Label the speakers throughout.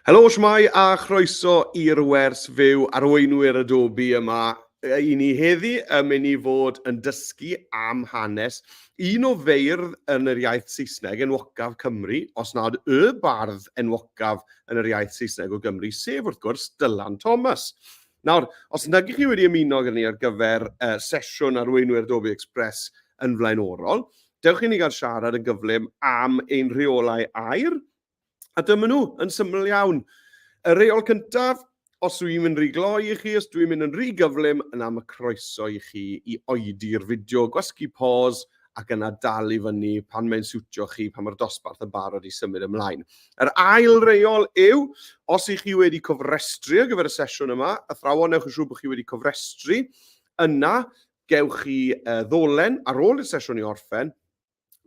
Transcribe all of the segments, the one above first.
Speaker 1: Helo, shwmae a chroeso i'r wers fyw arweinwyr Adobe yma i ni heddi. Ym mynd i fod yn dysgu am hanes un o feirdd yn yr iaith Saesneg enwocaf Cymru, os nad y bardd enwocaf yn yr iaith Saesneg o Gymru, sef wrth gwrs Dylan Thomas. Nawr, os nag ych chi wedi ymuno gyda ni ar gyfer uh, sesiwn arweinwyr Adobe Express yn flaenorol, Dewch i ni gael siarad yn gyflym am ein rheolau aer, a dyma nhw, yn syml iawn. Y reol cyntaf, os dwi'n mynd rhy gloi i chi, os dwi'n mynd yn rhy gyflym, yna mae croeso i chi i oedi'r fideo, gwasgu pause, ac yna dal i fyny pan mae'n siwtio chi, pan mae'r dosbarth yn barod i symud ymlaen. Yr ail reol yw, os ych chi wedi cofrestru ar gyfer y sesiwn yma, athrawon, newch yn siŵr bod chi wedi cofrestru, yna gewch chi uh, ddolen ar ôl i'r sesiwn i orffen,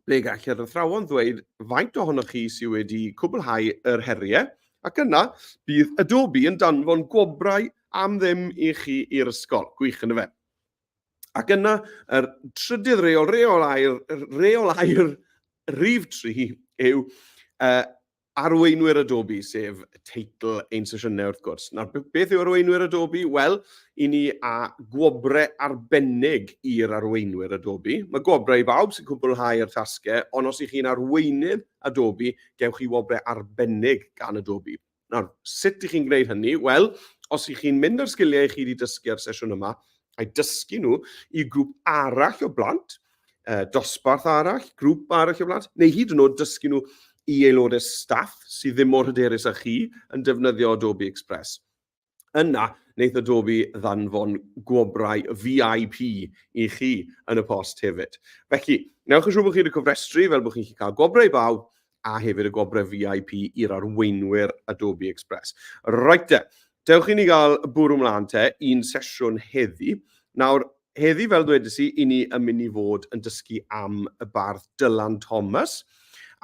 Speaker 1: ble gall yr athrawon ddweud faint ohonoch chi sydd wedi cwblhau yr heriau, ac yna bydd Adobe yn danfon gwobrau am ddim i chi i'r ysgol. Gwych yn y fe. Ac yna, yr trydydd reol, reol air, reol air rif tri yw uh, Arweinwyr Adobe, sef teitl ein sesiynau wrth gwrs. Nawr, beth yw arweinwyr Adobe? Wel, i ni a gwobrau arbennig i'r arweinwyr Adobe. Mae gwobrau i bawb sy'n cwblhau yr tasgau, ond os ych chi'n arweinydd Adobe, gewch chi wobrau arbennig gan Adobe. Nawr, sut ych chi'n gwneud hynny? Wel, os ych chi'n mynd â'r sgiliau i chi wedi dysgu ar y sesiwn yma, a'u dysgu nhw i grŵp arall o blant, uh, dosbarth arall, grŵp arall o blant, neu hyd yn oed dysgu nhw i aelodau staff sydd ddim mor hyderus â chi yn defnyddio Adobe Express. Yna, wneud Adobe ddanfon gwobrau VIP i chi yn y post hefyd. Felly, newch yn siŵr bod chi wedi cofrestru fel bod chi'n cael gwobrau i bawb a hefyd y gwobrau VIP i'r arweinwyr Adobe Express. Reit te, dewch i ni gael bwrw mlaen te i'n sesiwn heddi. Nawr, heddi fel dwedais i, i ni yn mynd i fod yn dysgu am y bardd Dylan Thomas,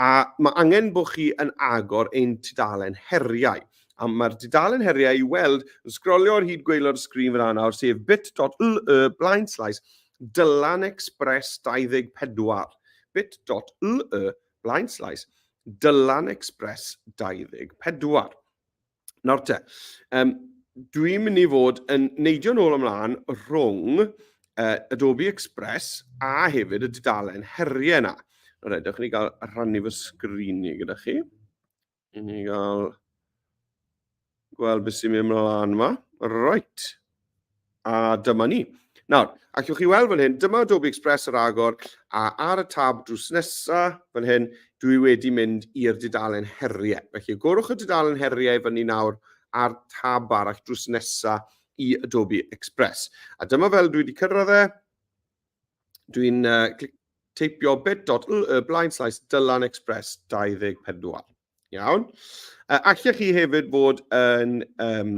Speaker 1: a mae angen bod chi yn agor ein tudalen heriau. A mae'r dudalen heriau i weld yn sgrolio ar hyd gweilod y sgrin fyna nawr, sef bit.ly blaen slaes Dylan Express 24. bit.ly Blaenslais, Dylan Express 24. Nawr te, um, dwi'n mynd i fod yn neidio'n ôl ymlaen rhwng uh, Adobe Express a hefyd y dudalen heriau yna. Nawr edrych ni gael rhannu fy sgrini gyda chi. I ni gael gweld beth sy'n mynd ymlaen yma. Right. A dyma ni. Nawr, ac yw'ch chi weld fan hyn, dyma Adobe Express yr agor, a ar y tab drws nesaf, fan hyn, dwi wedi mynd i'r dudalen heriau. Felly, gorwch y dudalen heriau fan ni nawr a'r tab arall drws nesaf i Adobe Express. A dyma fel dwi wedi cyrraedd e, Dwi'n uh, teipio bit.ly blaen slaes Dylan Express 24. Iawn. Uh, allech chi hefyd fod yn um,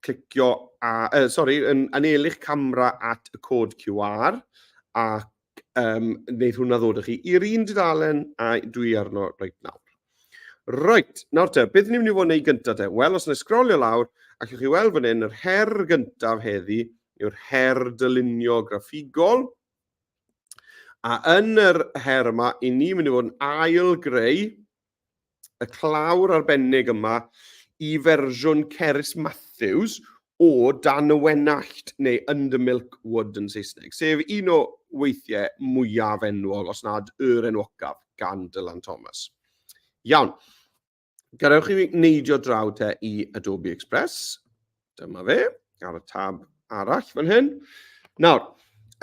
Speaker 1: clicio, a, uh, sorry, yn anelu'ch camera at y cod QR ac um, wneud hwnna ddod â chi i'r un dudalen a dwi arno reit nawr. Right, nawr te, beth ni'n mynd i fod yn ei gyntaf te? Wel, os yna sgrolio lawr, ac chi weld fan hyn, yr her gyntaf heddi yw'r her dylunio graffigol. A yn yr her yma, i ni mynd i fod yn ail greu y clawr arbennig yma i fersiwn Cerys Matthews, o dan y wenallt neu under milk wood yn Saesneg, sef un o weithiau mwyaf enwol, os nad yr enwocaf, gan Dylan Thomas. Iawn, gadewch i fi neidio draw te i Adobe Express. Dyma fe, ar y tab arall fan hyn. Nawr,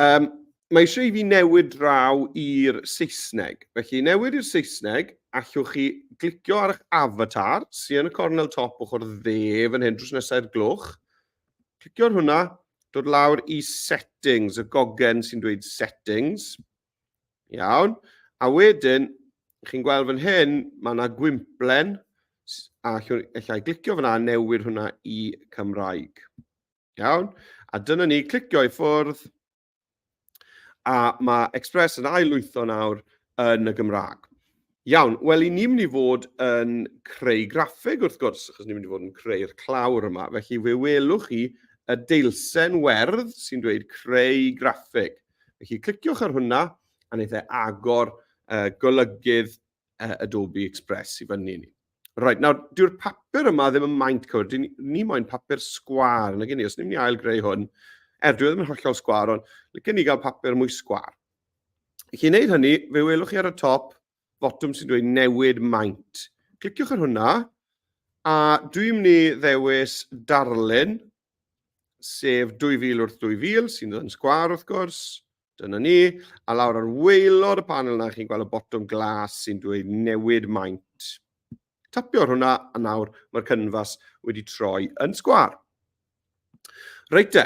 Speaker 1: um, mae eisiau i fi newid draw i'r Saesneg. Felly, newid i'r Saesneg, allwch chi glicio ar eich avatar, sy'n yn y cornel top ochr dde fan hyn, drws nesaf i'r gloch. Clicio ar hwnna, dod lawr i settings, y gogen sy'n dweud settings. Iawn. A wedyn, chi'n gweld fan hyn, mae yna gwymplen, a allwn allai glicio fyna a newid hwnna i Cymraeg. Iawn? A dyna ni, clicio i ffwrdd, A mae Express yn ail-lwytho nawr yn y Gymraeg. Iawn, wel, i ni'n mynd i fod yn creu graffeg wrth gwrs, achos ni'n mynd i fod yn creu'r clawr yma. Felly fe welwch chi y deilsen werdd sy'n dweud creu graffeg. Felly cliciwch ar hwnna a wneud e agor uh, golygydd uh, Adobe Express i fyny ni. Right, nawr, dyw'r papur yma ddim yn maint cywir. Dyn ni moyn papur sgwar yn y gynnu. Os ni'n mynd i ail greu hwn, er dwi e ddim yn hollol sgwar, ond lygen ni gael papur mwy sgwar. I chi wneud hynny, fe welwch chi ar y top, botwm sy'n dweud newid maint. Cliciwch ar hwnna, a dwi'n mynd i ddewis darlun, sef 2000 wrth 2000, sy'n dod yn sgwar wrth gwrs. Dyna ni. A lawr ar waelod y panel yna, chi'n gweld y botwm glas sy'n dweud newid maint. Tapio ar hwnna, a nawr mae'r cynfas wedi troi yn sgwar. Reit te,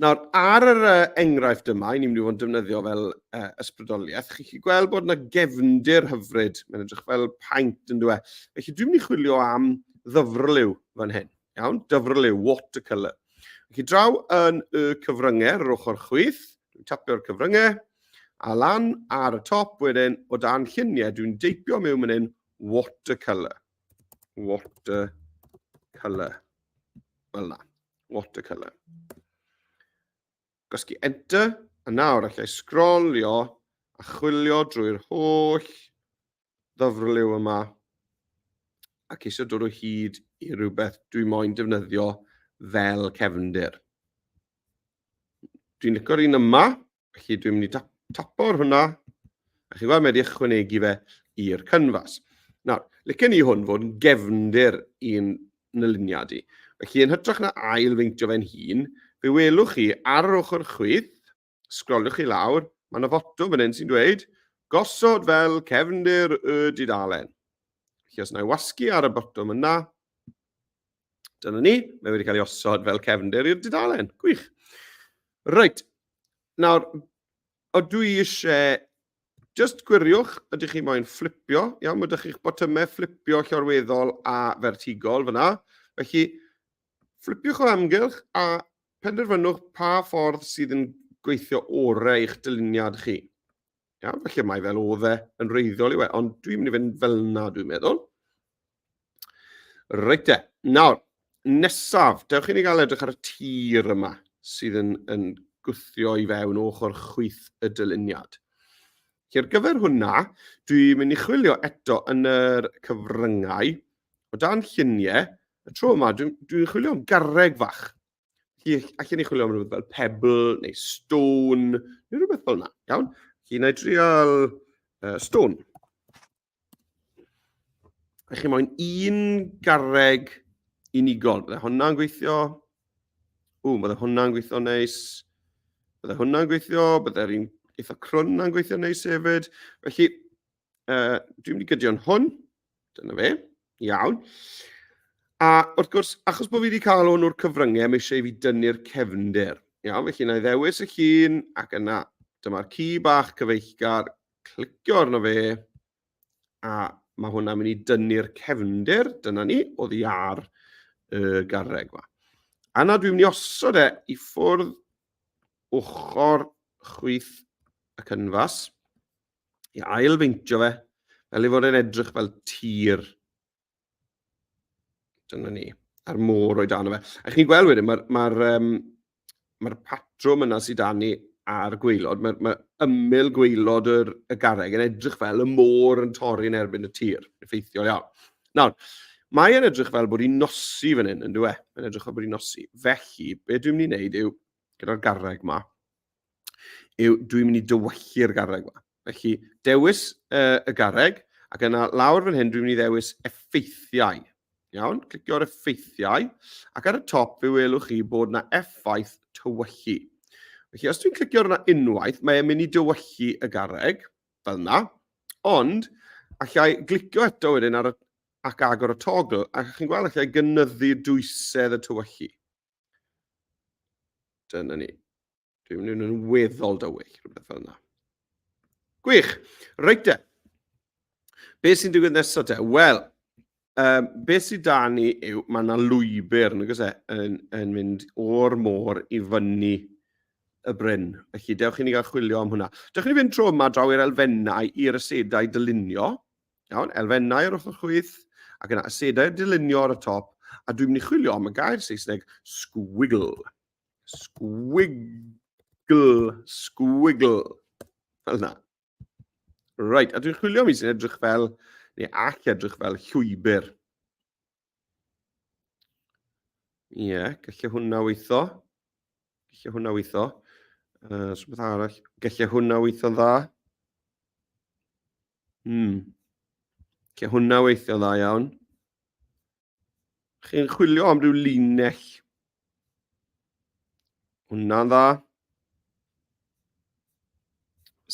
Speaker 1: nawr ar yr uh, enghraifft yma, i ni'n mynd i fod yn defnyddio fel uh, ysbrydoliaeth, chi'n chi gweld bod yna gefndir hyfryd, mae'n edrych fel paint yn dweud. Felly dwi'n mynd i chwilio am ddyfrlyw fan hyn. Iawn, dyfrol yw watercolour. Ac i draw yn y cyfryngau, yr ochr chwith, dwi'n tapio'r cyfryngau, a lan ar y top wedyn, o dan lluniau, dwi'n deipio mewn mynd yn watercolour. Watercolour. Fel na, watercolour. Gosgi enter, a nawr allai sgrolio a chwilio drwy'r holl ddyfrliw yma a ceisio dod o hyd i rhywbeth dwi moyn defnyddio fel cefndir. Dwi'n licor un yma, felly dwi'n mynd i tap, tapo ar hwnna, a chi weld mae wedi ychwanegu fe i'r cynfas. Nawr, licen ni hwn fod yn gefndir i'n nyluniad i. Felly, yn hytrach na ail feintio fe'n hun, fe welwch chi ar yr ochr chwith, Sgrolwch chi lawr, mae yna foto fan hyn sy'n dweud, gosod fel cefndir y dudalen. Felly os na i wasgu ar y botwm yna, dyna ni, mae wedi cael ei osod fel cefndir i'r dudalen. Gwych. Reit, nawr, o dwi eisiau just gwiriwch, ydych chi moyn fflipio, iawn, mae ydych chi'ch botymau fflipio llorweddol a fertigol fyna. Felly, Flipiwch o amgylch a penderfynwch pa ffordd sydd yn gweithio orau i'ch dyluniad chi. Iawn, felly mae fel oedd e yn reiddiol i we, ond dwi'n mynd i fynd fel na dwi'n meddwl. Reit e, nawr, nesaf, dewch i ni gael edrych ar y tir yma sydd yn, yn gwthio i fewn ochr chwyth y dyluniad. Felly ar gyfer hwnna, dwi'n mynd i chwilio eto yn yr cyfryngau o dan lluniau Y tro yma, dwi'n dwi chwilio am garreg fach. Allen ni chwilio am rhywbeth fel pebble neu stone, neu rhywbeth fel yna, iawn? Felly, na i drial uh, stone. A chi moyn un garreg unigol. Bydde hwnna'n gweithio. Ww, bydde hwnna'n gweithio neis. Bydde hwnna'n gweithio, bydde'r un eitha crwn na'n gweithio neis hefyd. Felly, uh, dwi'n mynd i gydio yn hwn. Dyna fe. Iawn. A wrth gwrs, achos bod fi wedi cael hwn o'r cyfryngau, mae eisiau i fi dynnu'r cefnder. Iawn, felly na i ddewis y llun, ac yna, dyma'r ci bach cyfeillgar, clicio arno fe, a mae hwnna'n mynd i dynnu'r cefnder, dyna ni, o ddi ar y garreg yma. A na, dwi'n mynd i osod e i ffwrdd ochr chwyth y cynfas. i ailfeintio fe, fel ei fod e'n edrych fel tir. Dyna ni, a'r môr o'i dan o fe. A chi'n gweld wedyn, mae'r ma um, ma patrwm yna sydd dan ni a'r gweilod, mae, ma ymyl gweilod yr, y garreg yn edrych fel y môr yn torri yn erbyn y tir, effeithiol iawn. Nawr, mae e'n edrych fel bod hi'n nosi fan hyn, yn dweud, e? Mae'n edrych fel bod hi'n nosi. Felly, be dwi'n mynd i wneud yw, gyda'r garreg ma, yw dwi'n mynd i dywyllu'r garreg yma. Felly, dewis uh, y garreg, ac yna lawr fan hyn dwi'n mynd i ddewis effeithiau. Iawn, clicio ar effeithiau, ac ar y top fe welwch chi bod yna effaith tywyllu. Felly, os dwi'n clicio arno unwaith, mae'n mynd i dywyllu y garreg, fel yna, ond allai glicio eto wedyn ar y, ac agor y togl, ac chi'n gweld allai gynyddu dwysedd y tywyllu. Dyna ni. Dwi'n mynd yn weddol dywyll, rhywbeth fel yna. Gwych. Reit de. Be sy'n digwydd nesaf te? Wel, um, be sy'n da ni yw, mae yna lwybr yn, e, yn, yn mynd o'r môr i fyny y bryn. Felly, dewch i ni gael chwilio am hwnna. Dewch i ni fynd tro yma draw i'r elfennau, i'r ysedau dylunio. Iawn, elfennau o'r ochr chwith, ac yna asedau dylunio ar y top, a dwi'n mynd i chwilio am y gair Saesneg squiggle. Squiggle, squiggle. Fel yna. Right, a dwi'n chwilio mi sy'n edrych fel, neu all edrych fel llwybr. Ie, yeah, gallai hwnna weithio. Gallai hwnna weithio. Uh, so beth arall? Gallai hwnna weithio dda. Hmm. Gallai hwnna weithio dda iawn. Chi'n chwilio am ryw linell Hwna'n dda.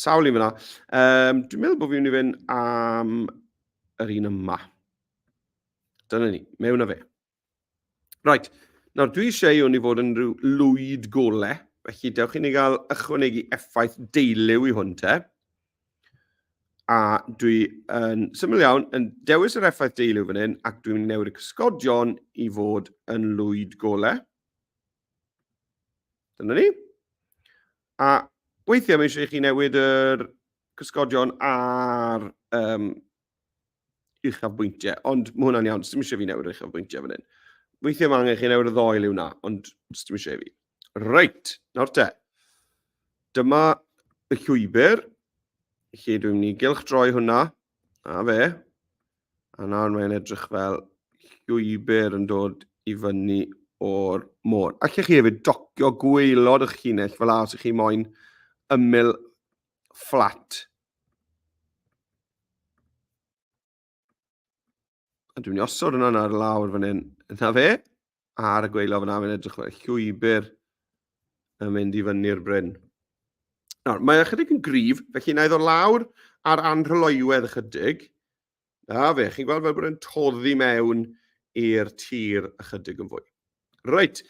Speaker 1: Sawl un fyna. Um, dwi'n meddwl bod fi'n mynd i fynd am yr un yma. Dyna ni, mewn a fe. Right, nawr dwi eisiau hwn i fod yn rhyw lwyd gole, felly dewch i ni gael ychwanegu effaith deiliw i hwn te. A dwi yn syml iawn yn dewis yr effaith deiliw fan hyn ac dwi'n newid y cysgodion i fod yn lwyd gole. Dyna ni. A weithiau mae eisiau i chi newid yr cysgodion ar um, uchafbwyntiau, ond mae hwnna'n iawn, dim eisiau fi newid yr uchafbwyntiau fan hyn. Weithiau mae angen chi newid y ddoel i'w na, ond dim eisiau fi. Reit, nawr te. Dyma y llwybr. Lle dwi'n mynd i gylch droi hwnna. A fe. A nawr mae'n edrych fel llwybr yn dod i fyny o'r môr. Ac chi hefyd docio gweilod eich llinell fel as ych chi moyn ymyl fflat. A dwi'n osod hwnna ar lawr fan hyn. Yna fe, ar y gweilo fyna, mae'n edrych fel llwybr yn mynd i fyny'r bryn. Nawr, mae ychydig yn grif, felly na iddo lawr ar anrhyloiwedd ychydig, A fe, chi'n gweld fel bod e'n toddi mewn i'r tir ychydig yn fwy. Reit,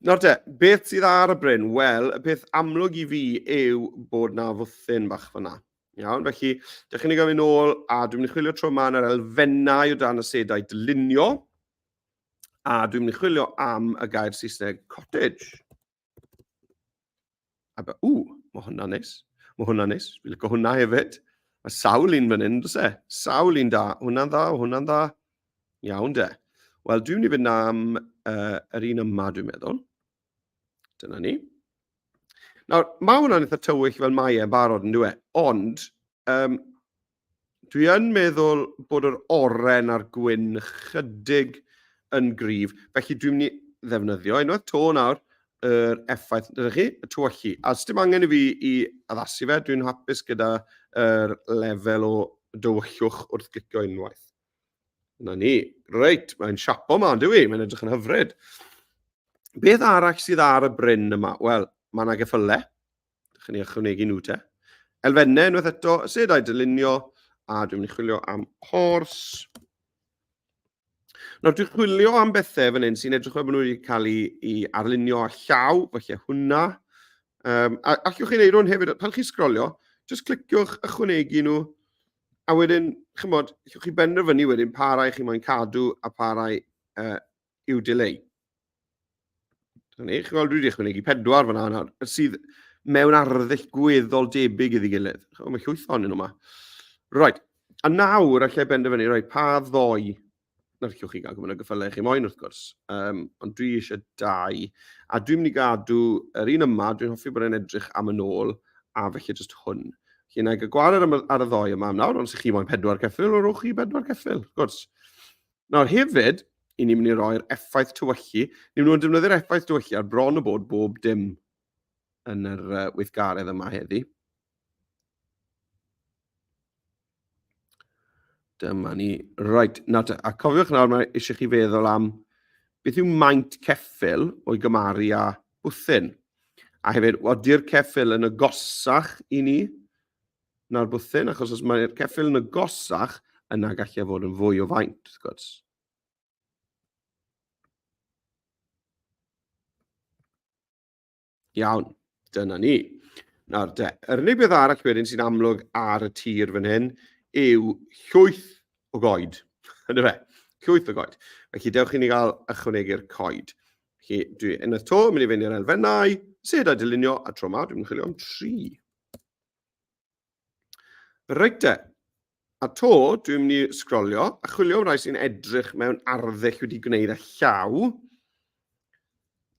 Speaker 1: nawr te, beth sydd ar y bryn? Wel, y peth amlwg i fi yw bod na fwthyn bach fyna. Iawn, felly, dych chi'n ei gofyn ôl, a dwi'n mynd i chwilio tro yma yn yr elfennau o dan y sedau dylunio, a dwi'n mynd i chwilio am y gair Saesneg cottage. A be, ww, mae hwnna neis. Mae hwnna neis. Fi'n lygo hwnna hefyd. Mae sawl un fan hyn, dos e? Sawl un da. Hwnna'n dda, hwnna'n dda. Iawn de. Wel, dwi'n mynd i fynd am uh, yr un yma, dwi'n meddwl. Dyna ni. Nawr, mae hwnna'n eitha tywyll fel mae e'n barod yn dweud, ond um, Dwi yn meddwl bod yr oren a'r gwyn chydig yn gryf, felly dwi'n mynd i ddefnyddio unwaith to nawr yr effaith, dyna chi, y tywyllu. A sdim angen i fi i addasu fe, dwi'n hapus gyda'r er lefel o dywyllwch wrth glicio unwaith. Yna ni. Reit, mae'n siapo ma, dwi, i, mae'n edrych yn hyfryd. Beth arall sydd ar y bryn yma? Wel, mae yna geffylau, Chi'n ei ychwanegu nhw te. Elfennau unwaith eto, y sedau dylunio, a dwi'n mynd i chwilio am horse. Nawr, dwi'n chwilio am bethau fan hyn sy'n edrych fel bod nhw wedi cael ei, ei arlunio a llaw, felly hwnna. Um, a allwch chi'n neud hwn hefyd, pan chi'n sgrolio, jyst cliciwch ychwanegu nhw, a wedyn, chymod, allwch chi benderfynu wedyn pa rai chi moyn cadw a pa rai uh, yw delay. Dyna ni, chi'n gweld, dwi wedi ychwanegu pedwar fyna nawr, sydd mewn arddull gweddol debyg iddi gilydd. Chymod, mae llwyth o'n nhw yma. Roed, a nawr allai benderfynu roi pa ddoi na llwch chi gael gwybod y gyffylau chi moyn wrth gwrs, um, ond dwi eisiau dau, a dwi'n mynd i gadw yr un yma, dwi'n hoffi bod e'n edrych am yn ôl, a felly jyst hwn. Felly yna i gael gwared ar y ddoi yma am nawr, ond sy'n chi moyn pedwar ceffil, rowch chi pedwar ceffil, wrth gwrs. Nawr hefyd, i ni'n mynd i roi'r effaith tywyllu, ni'n mynd i defnyddio'r effaith tywyllu ar bron o bod bob dim yn yr uh, weithgaredd yma heddi. Dyma ni. Right, na te. A cofiwch nawr, mae eisiau chi feddwl am beth yw maint ceffil o'i gymaru â bwthyn. A hefyd, ody'r ceffil yn agosach i ni na'r bwthyn, achos os mae'r ceffyl yn agosach, yna gallai e fod yn fwy o faint, wrth gwrs. Iawn, dyna ni. Nawr de, yr unig beth arall wedyn sy'n amlwg ar y tir fan hyn yw llwyth o goed. Yna fe, llwyth o goed. Felly dewch i ni gael ychwanegu'r coed. Felly dwi yn y to, mynd i fynd i'r elfennau, sed a dylunio, a tro yma dwi'n chwilio am tri. Reit te. A to, dwi'n mynd i sgrolio a chwilio am rai sy'n edrych mewn arddull wedi gwneud a llaw.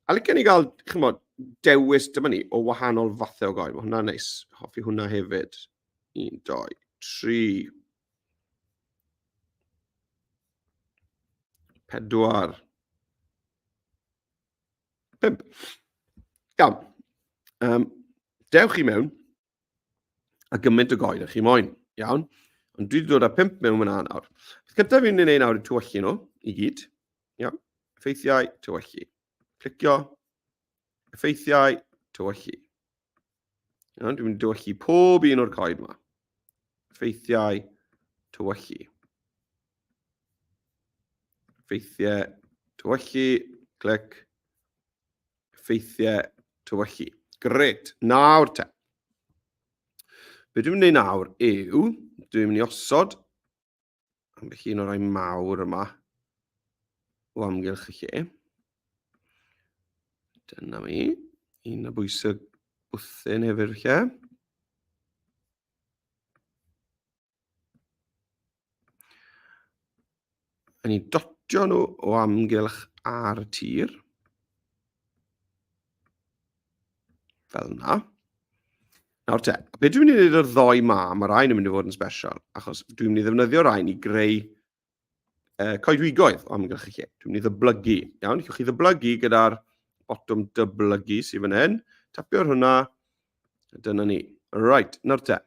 Speaker 1: A licen i gael, chymod, dewis dyma ni o wahanol fathau o goel. Mae hwnna'n neis. Hoffi hwnna hefyd. Un, doi, tri. Pedwar. Pump. Iawn. Um, dewch i mewn a gymaint o goed â chi moyn. Iawn. Ond dwi wedi dod â pump mewn fyna nawr. Beth cyntaf fi'n ei nawr yw tywellu nhw i gyd. Iawn. Effeithiau, tywellu. Clicio. Effeithiau, tywellu. Iawn, dwi'n mynd i dywyllu pob un o'r coed yma. Ffeithiau tywyllu. Ffeithiau tywyllu, clic. Ffeithiau tywyllu. Gret, nawr te. Be dwi'n mynd i wneud nawr yw, dwi'n mynd i osod Ambell un o'r rhai mawr yma o amgylch y lle. Dyna mi. Un o bwysig bwthyn hefyd lle. Yn ei dotio nhw o amgylch ar y tir. Fel yna. Nawr te, be dwi'n mynd i wneud o'r ddoi ma, mae'r rhain yn mynd i fod yn special, achos dwi'n mynd i ddefnyddio rhain i greu uh, coedwigoedd o amgylch y lle. Dwi'n mynd i ddyblygu, iawn? Llwch chi ddyblygu gyda'r botwm dyblygu sydd fan hyn, tapio ar hwnna, dyna ni. Right, nawr te,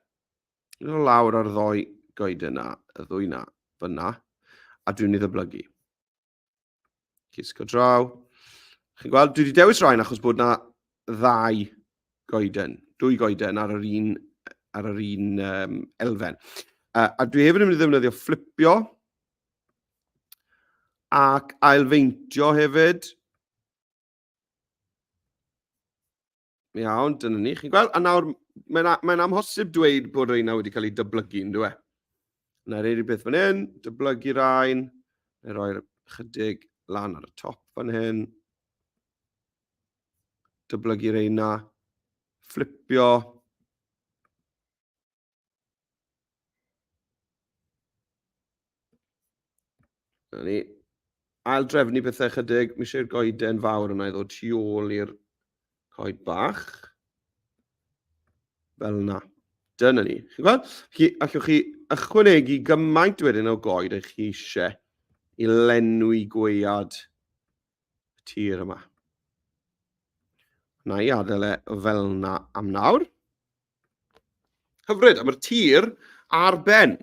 Speaker 1: yn lawr ar ddoi goed yna, y ddwy yna, fyna, a dwi'n mynd i ddyblygu. Cisgo draw. Chi'n gweld, dwi wedi dewis rhain achos bod na ddau goeden, dwy goeden ar yr un, ar yr un um, elfen. Uh, a dwi hefyd yn mynd i ddefnyddio fflipio ac ailfeintio hefyd. Iawn, dyna ni. Chi'n gweld? A nawr, mae'n mae amhosib dweud bod rhain wedi cael eu dyblygu, yn dweud. Na rhaid i beth fan hyn, dyblygu rhain, neu roi'r chydig lan ar y top fan hyn. Dyblygu rhain na, fflipio. Na ni. Ail drefnu pethau chydig. Mi eisiau'r goeden fawr yna i ddod tu ôl i'r coed bach. Fel yna. Dyna ni. Chi'n gweld? Chi, allwch chi ychwanegu gymaint wedyn o goed eich chi eisiau i lenwi gwead y tir yma. Na i adael e fel yna am nawr. Hyfryd, a mae'r tir ar ben.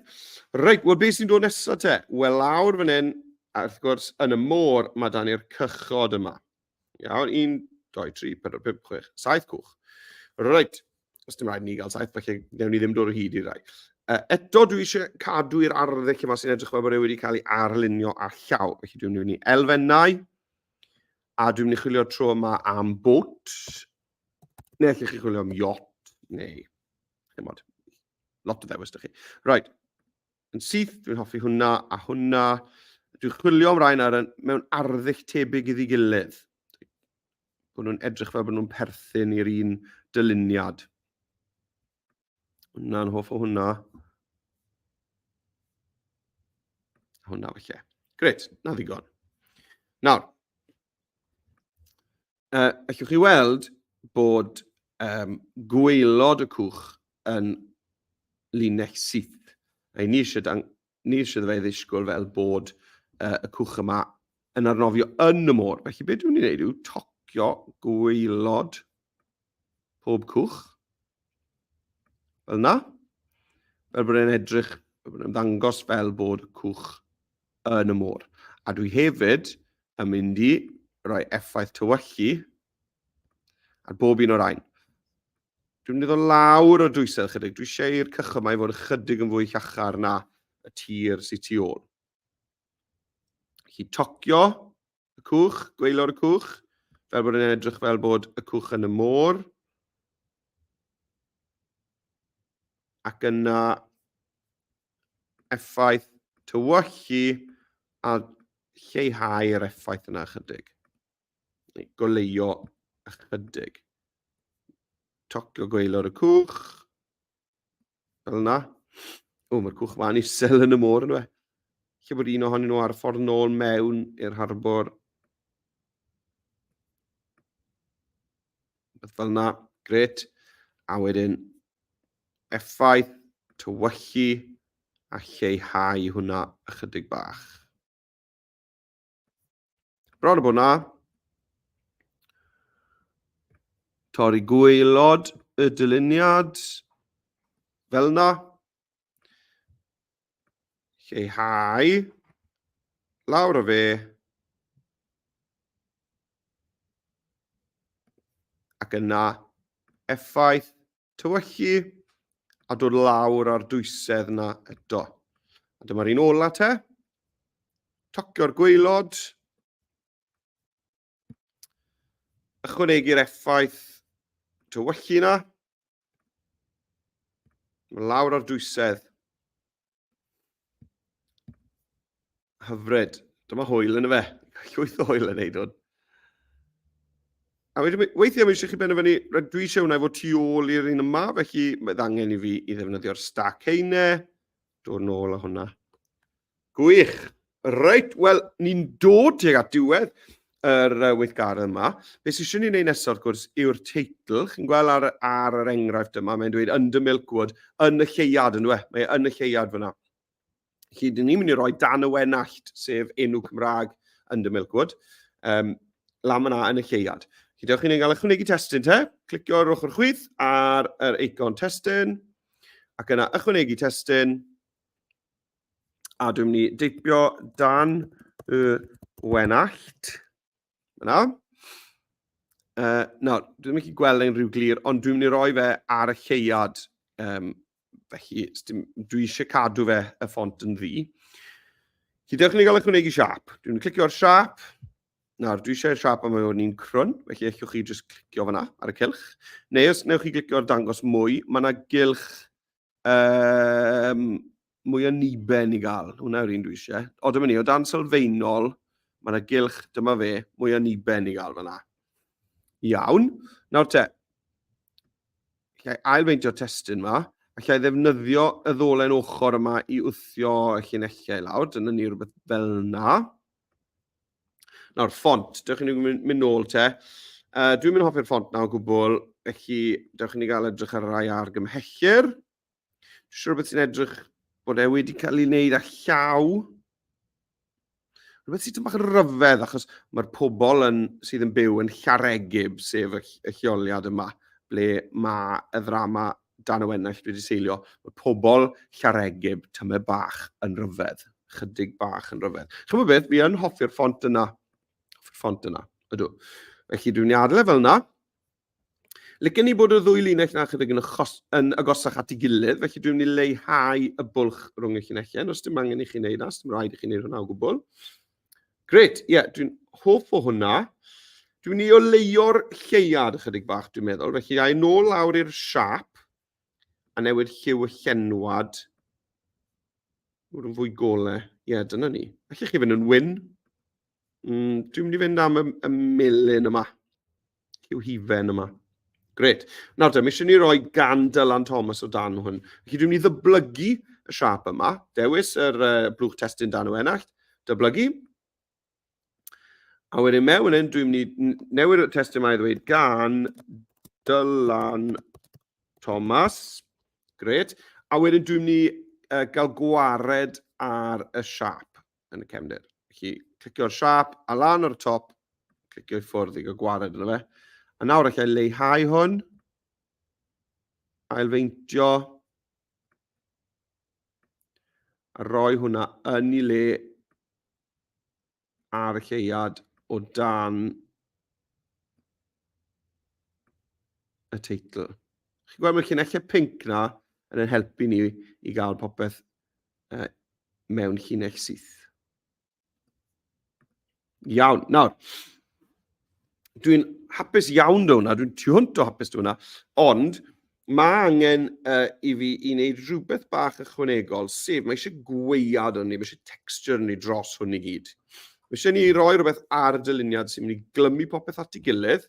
Speaker 1: Reit, wel beth sy'n dod nesaf te? Wel lawr fan hyn, a wrth gwrs, yn y môr, mae dan ni'r cychod yma. Iawn, 1, 2, 3, 4, 5, 6, 7 cwch. Reit, os dim rhaid ni gael saith, felly newn ni ddim dod o hyd i rai. Uh, eto, dwi eisiau cadw i'r arddull yma sy'n edrych fel bod e wedi cael ei arlunio a llaw. Felly dwi'n mynd i elfennau, a dwi'n mynd i chwilio'r tro yma am bwt, Neu allwch chi chwilio am yacht, neu... Dim ond. Lot o ddewis da chi. Right. Yn syth, dwi'n hoffi hwnna a hwnna. Dwi'n chwilio am rhain ar, mewn arddull tebyg iddi gilydd. Bod nhw'n edrych fel bod nhw'n perthyn i'r un dyluniad. Hwna'n hoff o hwnna. Hwna felly. Gret, na ddigon. Nawr, A allwch chi weld bod um, gweilod y cwch yn linell syth. A ni eisiau, dan, ni eisiau fe ddisgwyl fel bod uh, y cwch yma yn arnofio yn y môr. Felly beth dwi'n ei wneud yw tocio gweilod pob cwch. Fel yna, fel bod e'n edrych, fel bod e'n ddangos fel bod cwch yn y môr. A dwi hefyd yn mynd i roi effaith tywyllu ar bob un o'r ein. Dwi'n mynd i ddod lawr o dwysau chydig. Dwi eisiau i'r cychod mae fod ychydig yn fwy llachar na y tir sy'n tu ôl. Felly tocio y cwch, gweilor y cwch, fel bod yn edrych fel bod y cwch yn y môr. Ac yna effaith tywyllu a lleihau yr effaith yna ychydig. Neu goleio ychydig. Tocio gweilor y cwch. Fel yna. O, mae'r cwch ma'n isel yn y môr yn y fe. Lle bod un ohonyn nhw ar ffordd nôl mewn i'r harbor. Beth fel yna. Gret. A wedyn effaith, tywyllu a lleihau hwnna ychydig bach. Bron o bod na. Torri gweilod y dyluniad. Fel na. Lleihau. Lawr o fe. Ac yna effaith Tywychu a dod lawr ar dwysedd na eto. A dyma'r un ola te. Tocio'r gweilod. Ychwanegu'r effaith tywychu na. Lawr ar dwysedd. Hyfryd. Dyma hwyl yn y fe. Llwyth o hwyl yn neud hwn. A wedyn, weithiau mae eisiau chi benderfynu, rydw dwi eisiau hwnna efo tu ôl i'r un yma, felly mae ddangen i fi i ddefnyddio'r stack heine. Dod nôl â hwnna. Gwych! Reit, wel, ni'n dod tuag at diwedd yr uh, weithgaredd yma. Be sy'n eisiau ni wneud nesaf, wrth gwrs, yw'r teitl. Chi'n gweld ar, ar yr enghraifft yma, mae'n dweud under Milkwood, yn y lleuad, yn dwi? E? Mae e yn y lleuad fyna. Chi, dyn ni'n mynd i roi dan y wenallt, sef enw Cymraeg under Milkwood, um, lam yna yn y lleuad. Chi, dewch chi'n cael ychwanegu testyn te, clicio ar ochr chwith ar yr eicon testyn, ac yna ychwanegu testyn, a dwi'n mynd i deipio dan y wenallt. Yna. Uh, no, dwi'n mynd i gweld ein rhyw glir, ond dwi'n mynd i roi fe ar y lleuad. Um, felly, dwi eisiau cadw fe y ffont yn ddi. Chi dewch ni gael eich wneud i siap. Dwi'n clicio ar siap. Nawr, dwi eisiau siap am o'n i'n crwn, felly eich chi jyst clicio fyna ar y cylch. Neu os newch chi glicio'r dangos mwy, mae yna gylch Um, mwy o niben i gael, hwnna yw'r un dwi eisiau. O, dyma ni, o dan sylfaenol, mae yna gylch, dyma fe, mwy o niben i gael fyna. Iawn. Nawr te, allai ailfeintio testyn yma, allai ddefnyddio y ddolen ochr yma i wthio y llinellau lawr, dyna ni rhywbeth fel yna. Nawr, ffont, dewch i ni mynd, mynd nôl te. Uh, dwi'n mynd hoffi'r ffont na o gwbl, felly dewch i ni gael edrych ar rai ar gymhellur. Dwi'n siŵr beth sy'n edrych bod e wedi cael ei wneud â llaw. Rhywbeth sy'n tymach yn ryfedd, achos mae'r pobl yn, sydd yn byw yn Llaregib, sef y, y lleoliad yma, ble mae y ddrama dan y wennaeth wedi seilio, mae pobl Llareggub tymed bach yn rhyfedd. Chydig bach yn rhyfedd. Chymod beth, fi yn hoffi'r ffont yna. Hoffi'r ffont yna, ydw. Felly dwi'n adle fel yna. Lycyn ni bod y ddwy linell na chydig yn, achos, yn agosach at ei gilydd, felly dwi'n mynd i leihau y bwlch rhwng y llinellau, os dim angen i chi wneud na, os dim rhaid i chi wneud hwnna o gwbl. Gret, ie, yeah, dwi'n hoff o hwnna. Dwi'n mynd i oleio'r lleuad ychydig bach, dwi'n meddwl. Felly, a i nôl lawr i'r siap a newid lliw y llenwad. Mwyd yn fwy gole. Ie, yeah, dyna ni. Felly chi fynd yn wyn. Mm, dwi'n mynd i fynd am y, y melin yma. Hugh Hufen yma. Gret. Nawr te, mi eisiau ni roi gan Dylan Thomas o dan hwn. Felly dwi'n ni ddyblygu y siap yma. Dewis yr uh, blwch testyn dan o enacht. Dyblygu. A wedyn mewn yn dwi'n ni newid y testyn yma i ddweud gan Dylan Thomas. Gret. A wedyn dwi'n ni uh, gael gwared ar y siap. yn y cefndir. Felly, clicio'r siap a lan o'r top, clicio i ffwrdd i gael gwared yna fe. A nawr allai leihau hwn, ailfeintio, a roi hwnna yn ei le ar y lleuad o dan y teitl. Chi'n gweld mae'r llunellau pink na yn ein helpu ni i gael popeth uh, mewn llinell syth. Iawn, nawr, dwi'n hapus iawn da hwnna, dwi'n tu hwnt o hapus da hwnna, ond mae angen uh, i fi i wneud rhywbeth bach ychwanegol, sef mae eisiau gweiad o'n ni, mae eisiau texture o'n ni dros hwn i gyd. Mae eisiau ni roi rhywbeth ar y dyluniad sy'n mynd i glymu popeth at ei gilydd,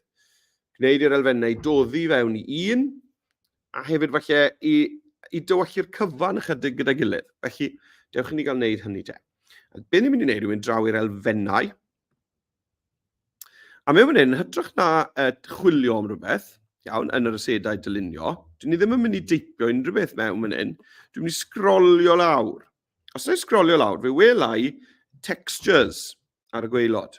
Speaker 1: gwneud i'r elfennau doddi fewn i un, a hefyd falle i, i dywallu'r cyfan ychydig gyda'i gilydd. Felly, dewch i ni gael wneud hynny te. A be ni'n mynd i wneud yw mynd draw i'r elfennau. A mewn fan hyn, hytrach na uh, chwilio am rhywbeth, iawn, yn yr asedau dylunio, dwi ni ddim yn mynd i deipio unrhyw beth mewn fan hyn. Dwi'n mynd i sgrolio lawr. Os dwi'n sgrolio lawr, fe welai textures ar y gweilod.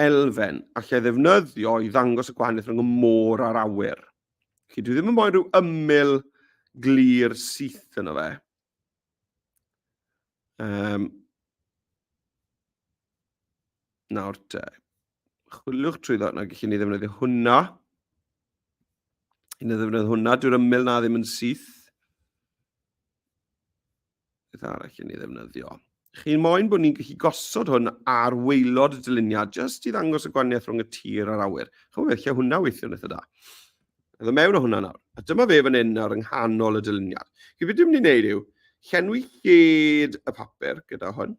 Speaker 1: elfen allai ddefnyddio i ddangos y gwahaniaeth rhwng y môr a'r awyr. Felly, dwi ddim yn moyn rhyw ymyl glir syth yno fe. Um, nawr te, chwiliwch trwy ddod yna, gallwn ni ddefnyddio hwnna. Un o ddefnyddio hwnna, dwi'n ymyl na ddim yn syth. beth arall yn ei ddefnyddio. Chi'n moyn bod ni'n gallu gosod hwn ar weilod y dyluniad, jyst i ddangos y gwaniaeth rhwng y tir a'r awyr. Chymru, lle hwnna weithio'n eitha da. Ydw mewn o hwnna nawr. A dyma fe fan hyn nawr yng nghanol y dyluniad. Chi beth dwi'n mynd i wneud yw, llenwi lled y papur gyda hwn.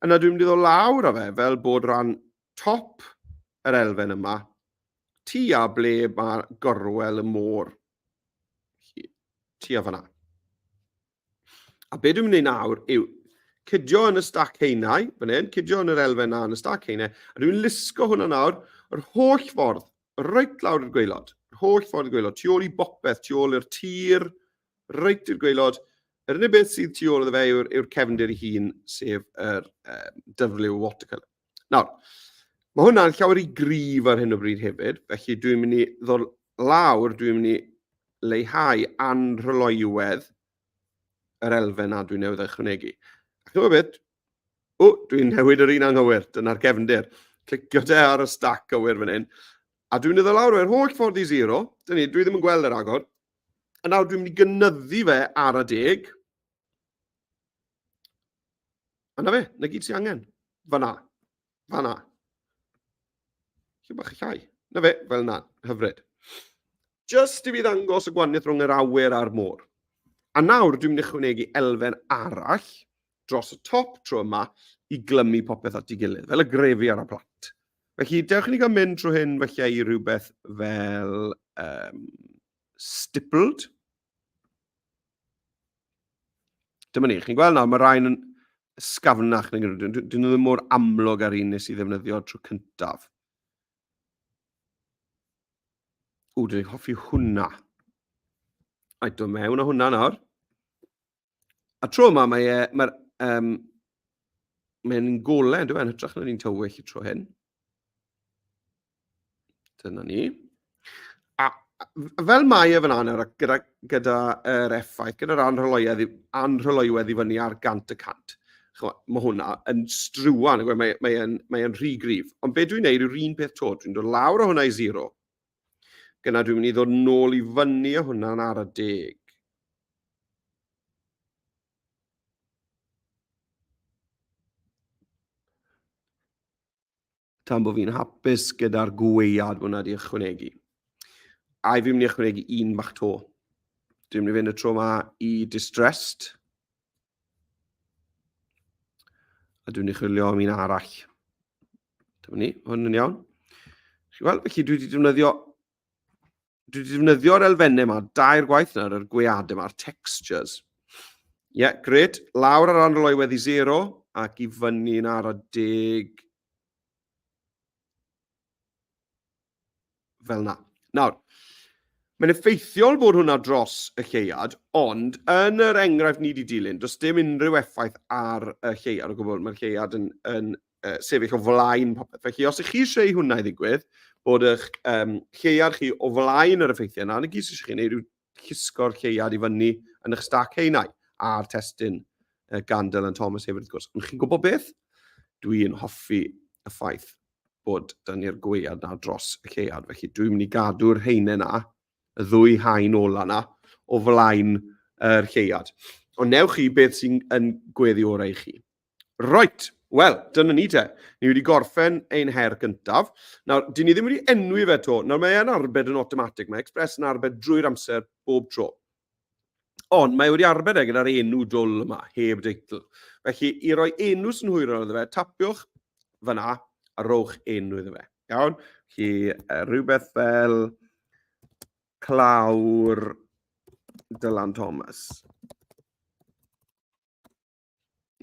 Speaker 1: Yna dwi'n mynd i ddod lawr â fe fel bod rhan top yr elfen yma, tu a ble mae gorwel y môr. Tua fanna. A be dwi'n mynd i nawr yw cydio yn y stac heinau, fan hyn, cydio yn yr elfen na yn y stac heinau, a dwi'n lusgo hwnna nawr, yr holl ffordd, reit lawr i'r gweilod, yr holl ffordd i'r gweilod, tu ôl i bopeth, tu ôl i'r tir, reit i'r gweilod, yr unig beth sydd tu ôl iddo fe yw'r yw'r cefndir ei hun, sef yr um, dyfrliw watercolour. Nawr, mae hwnna'n llawer i gryf ar hyn o bryd hefyd, felly dwi'n mynd i ddod lawr, dwi'n mynd i leihau anrhyloywedd yr elfen a dwi'n newydd ychwanegu. Ac yma beth, o, dwi'n newid yr un anghywir, dyna'r gefndir. Clicio te ar y stac gywir fan hyn, a dwi'n mynd i ddod lawr o'r holl ffordd i zero, dyn ni, dwi ddim yn gweld yr agor, a nawr dwi'n mynd i gynyddu fe ar y deg, A na fe, na gyd sy'n angen. Fa na. Fa na. Lle bach llai. Na fe, fel na. Hyfryd. Just i fi ddangos y gwaniaeth rhwng yr awyr a'r môr. A nawr, dwi'n mynd i chwnegu elfen arall dros y top tro yma i glymu popeth at ei gilydd, fel y grefi ar y plat. Felly, dewch i ni gael mynd trwy hyn felly i rhywbeth fel um, stippled. Dyma ni, chi'n gweld nawr, mae rhain yn sgafnach, dyn nhw ddim mor amlwg ar un nes i ddefnyddio trwy cyntaf. O, dyn ni'n hoffi hwnna. Ai, do mewn o hwnna nawr. A tro yma, mae e, mae'r, um, mae'n golau, dwi'n e, yn hytrach na'n un tywyll y tro hyn. Dyna ni. A fel mae e fan hyn, gyda, gyda er effaith, gyda'r anrhyloedd, anrhyloedd i fyny ar gant y cant, mae hwnna yn struan, e, mae, mae, yn, mae yn rhy grif. Ond be dwi'n neud yw'r un peth to, dwi'n dod lawr o hwnna i zero. Gyna dwi'n mynd i ddod nôl i fyny o hwnna'n ar y deg. Tan bod fi'n hapus gyda'r gweiad bod wna di ychwanegu. A i fi'n mynd i ychwanegu un bach to. Dwi'n mynd i fynd y tro yma i distressed. A dwi'n mynd i chwilio am un arall. Dyma ni, hwn yn iawn. Chi'n gweld, felly dwi wedi defnyddio dwi wedi defnyddio'r elfennau yma dair gwaith nawr, yr gwead yma, a'r textures. Ie, yeah, gret. Lawr ar anrol o'i weddi 0 ac i fyny yn ar y deg. Fel na. Nawr, mae'n effeithiol bod hwnna dros y lleuad, ond yn yr enghraifft ni wedi dilyn, does dim unrhyw effaith ar y lleuad o gwbl. Mae'r lleuad yn, yn uh, sefyll o flaen popeth. Felly, os ych chi eisiau i hwnna i ddigwydd, bod eich um, lleiad chi o flaen yr effeithiau yna, ond y gys eisiau chi wneud yw llusgo'r lleiad i fyny yn eich stac heinau a'r testyn uh, gan Dylan Thomas hefyd, wrth gwrs. Ond chi'n gwybod beth? Dwi'n hoffi y ffaith bod dyn ni'r gweiad na dros y lleiad. Felly dwi'n mynd i gadw'r heine na, y ddwy hain ola na, o flaen yr lleiad. Ond newch chi beth sy'n gweddi orau i chi. Roet, wel, dyna ni te. Ni wedi gorffen ein her gyntaf. Nawr, dyn ni ddim wedi enwi fe to. Nawr, mae e'n arbed yn automatic. Mae Express yn arbed drwy'r amser, bob tro. Ond mae wedi arbed e gyda'r enw dwl yma, heb deitl. Felly, i roi enw sy'n hwyrol iddo fe, tapiwch fyna a rowch enw iddo fe. Iawn? Felly, rhywbeth fel clawr Dylan Thomas.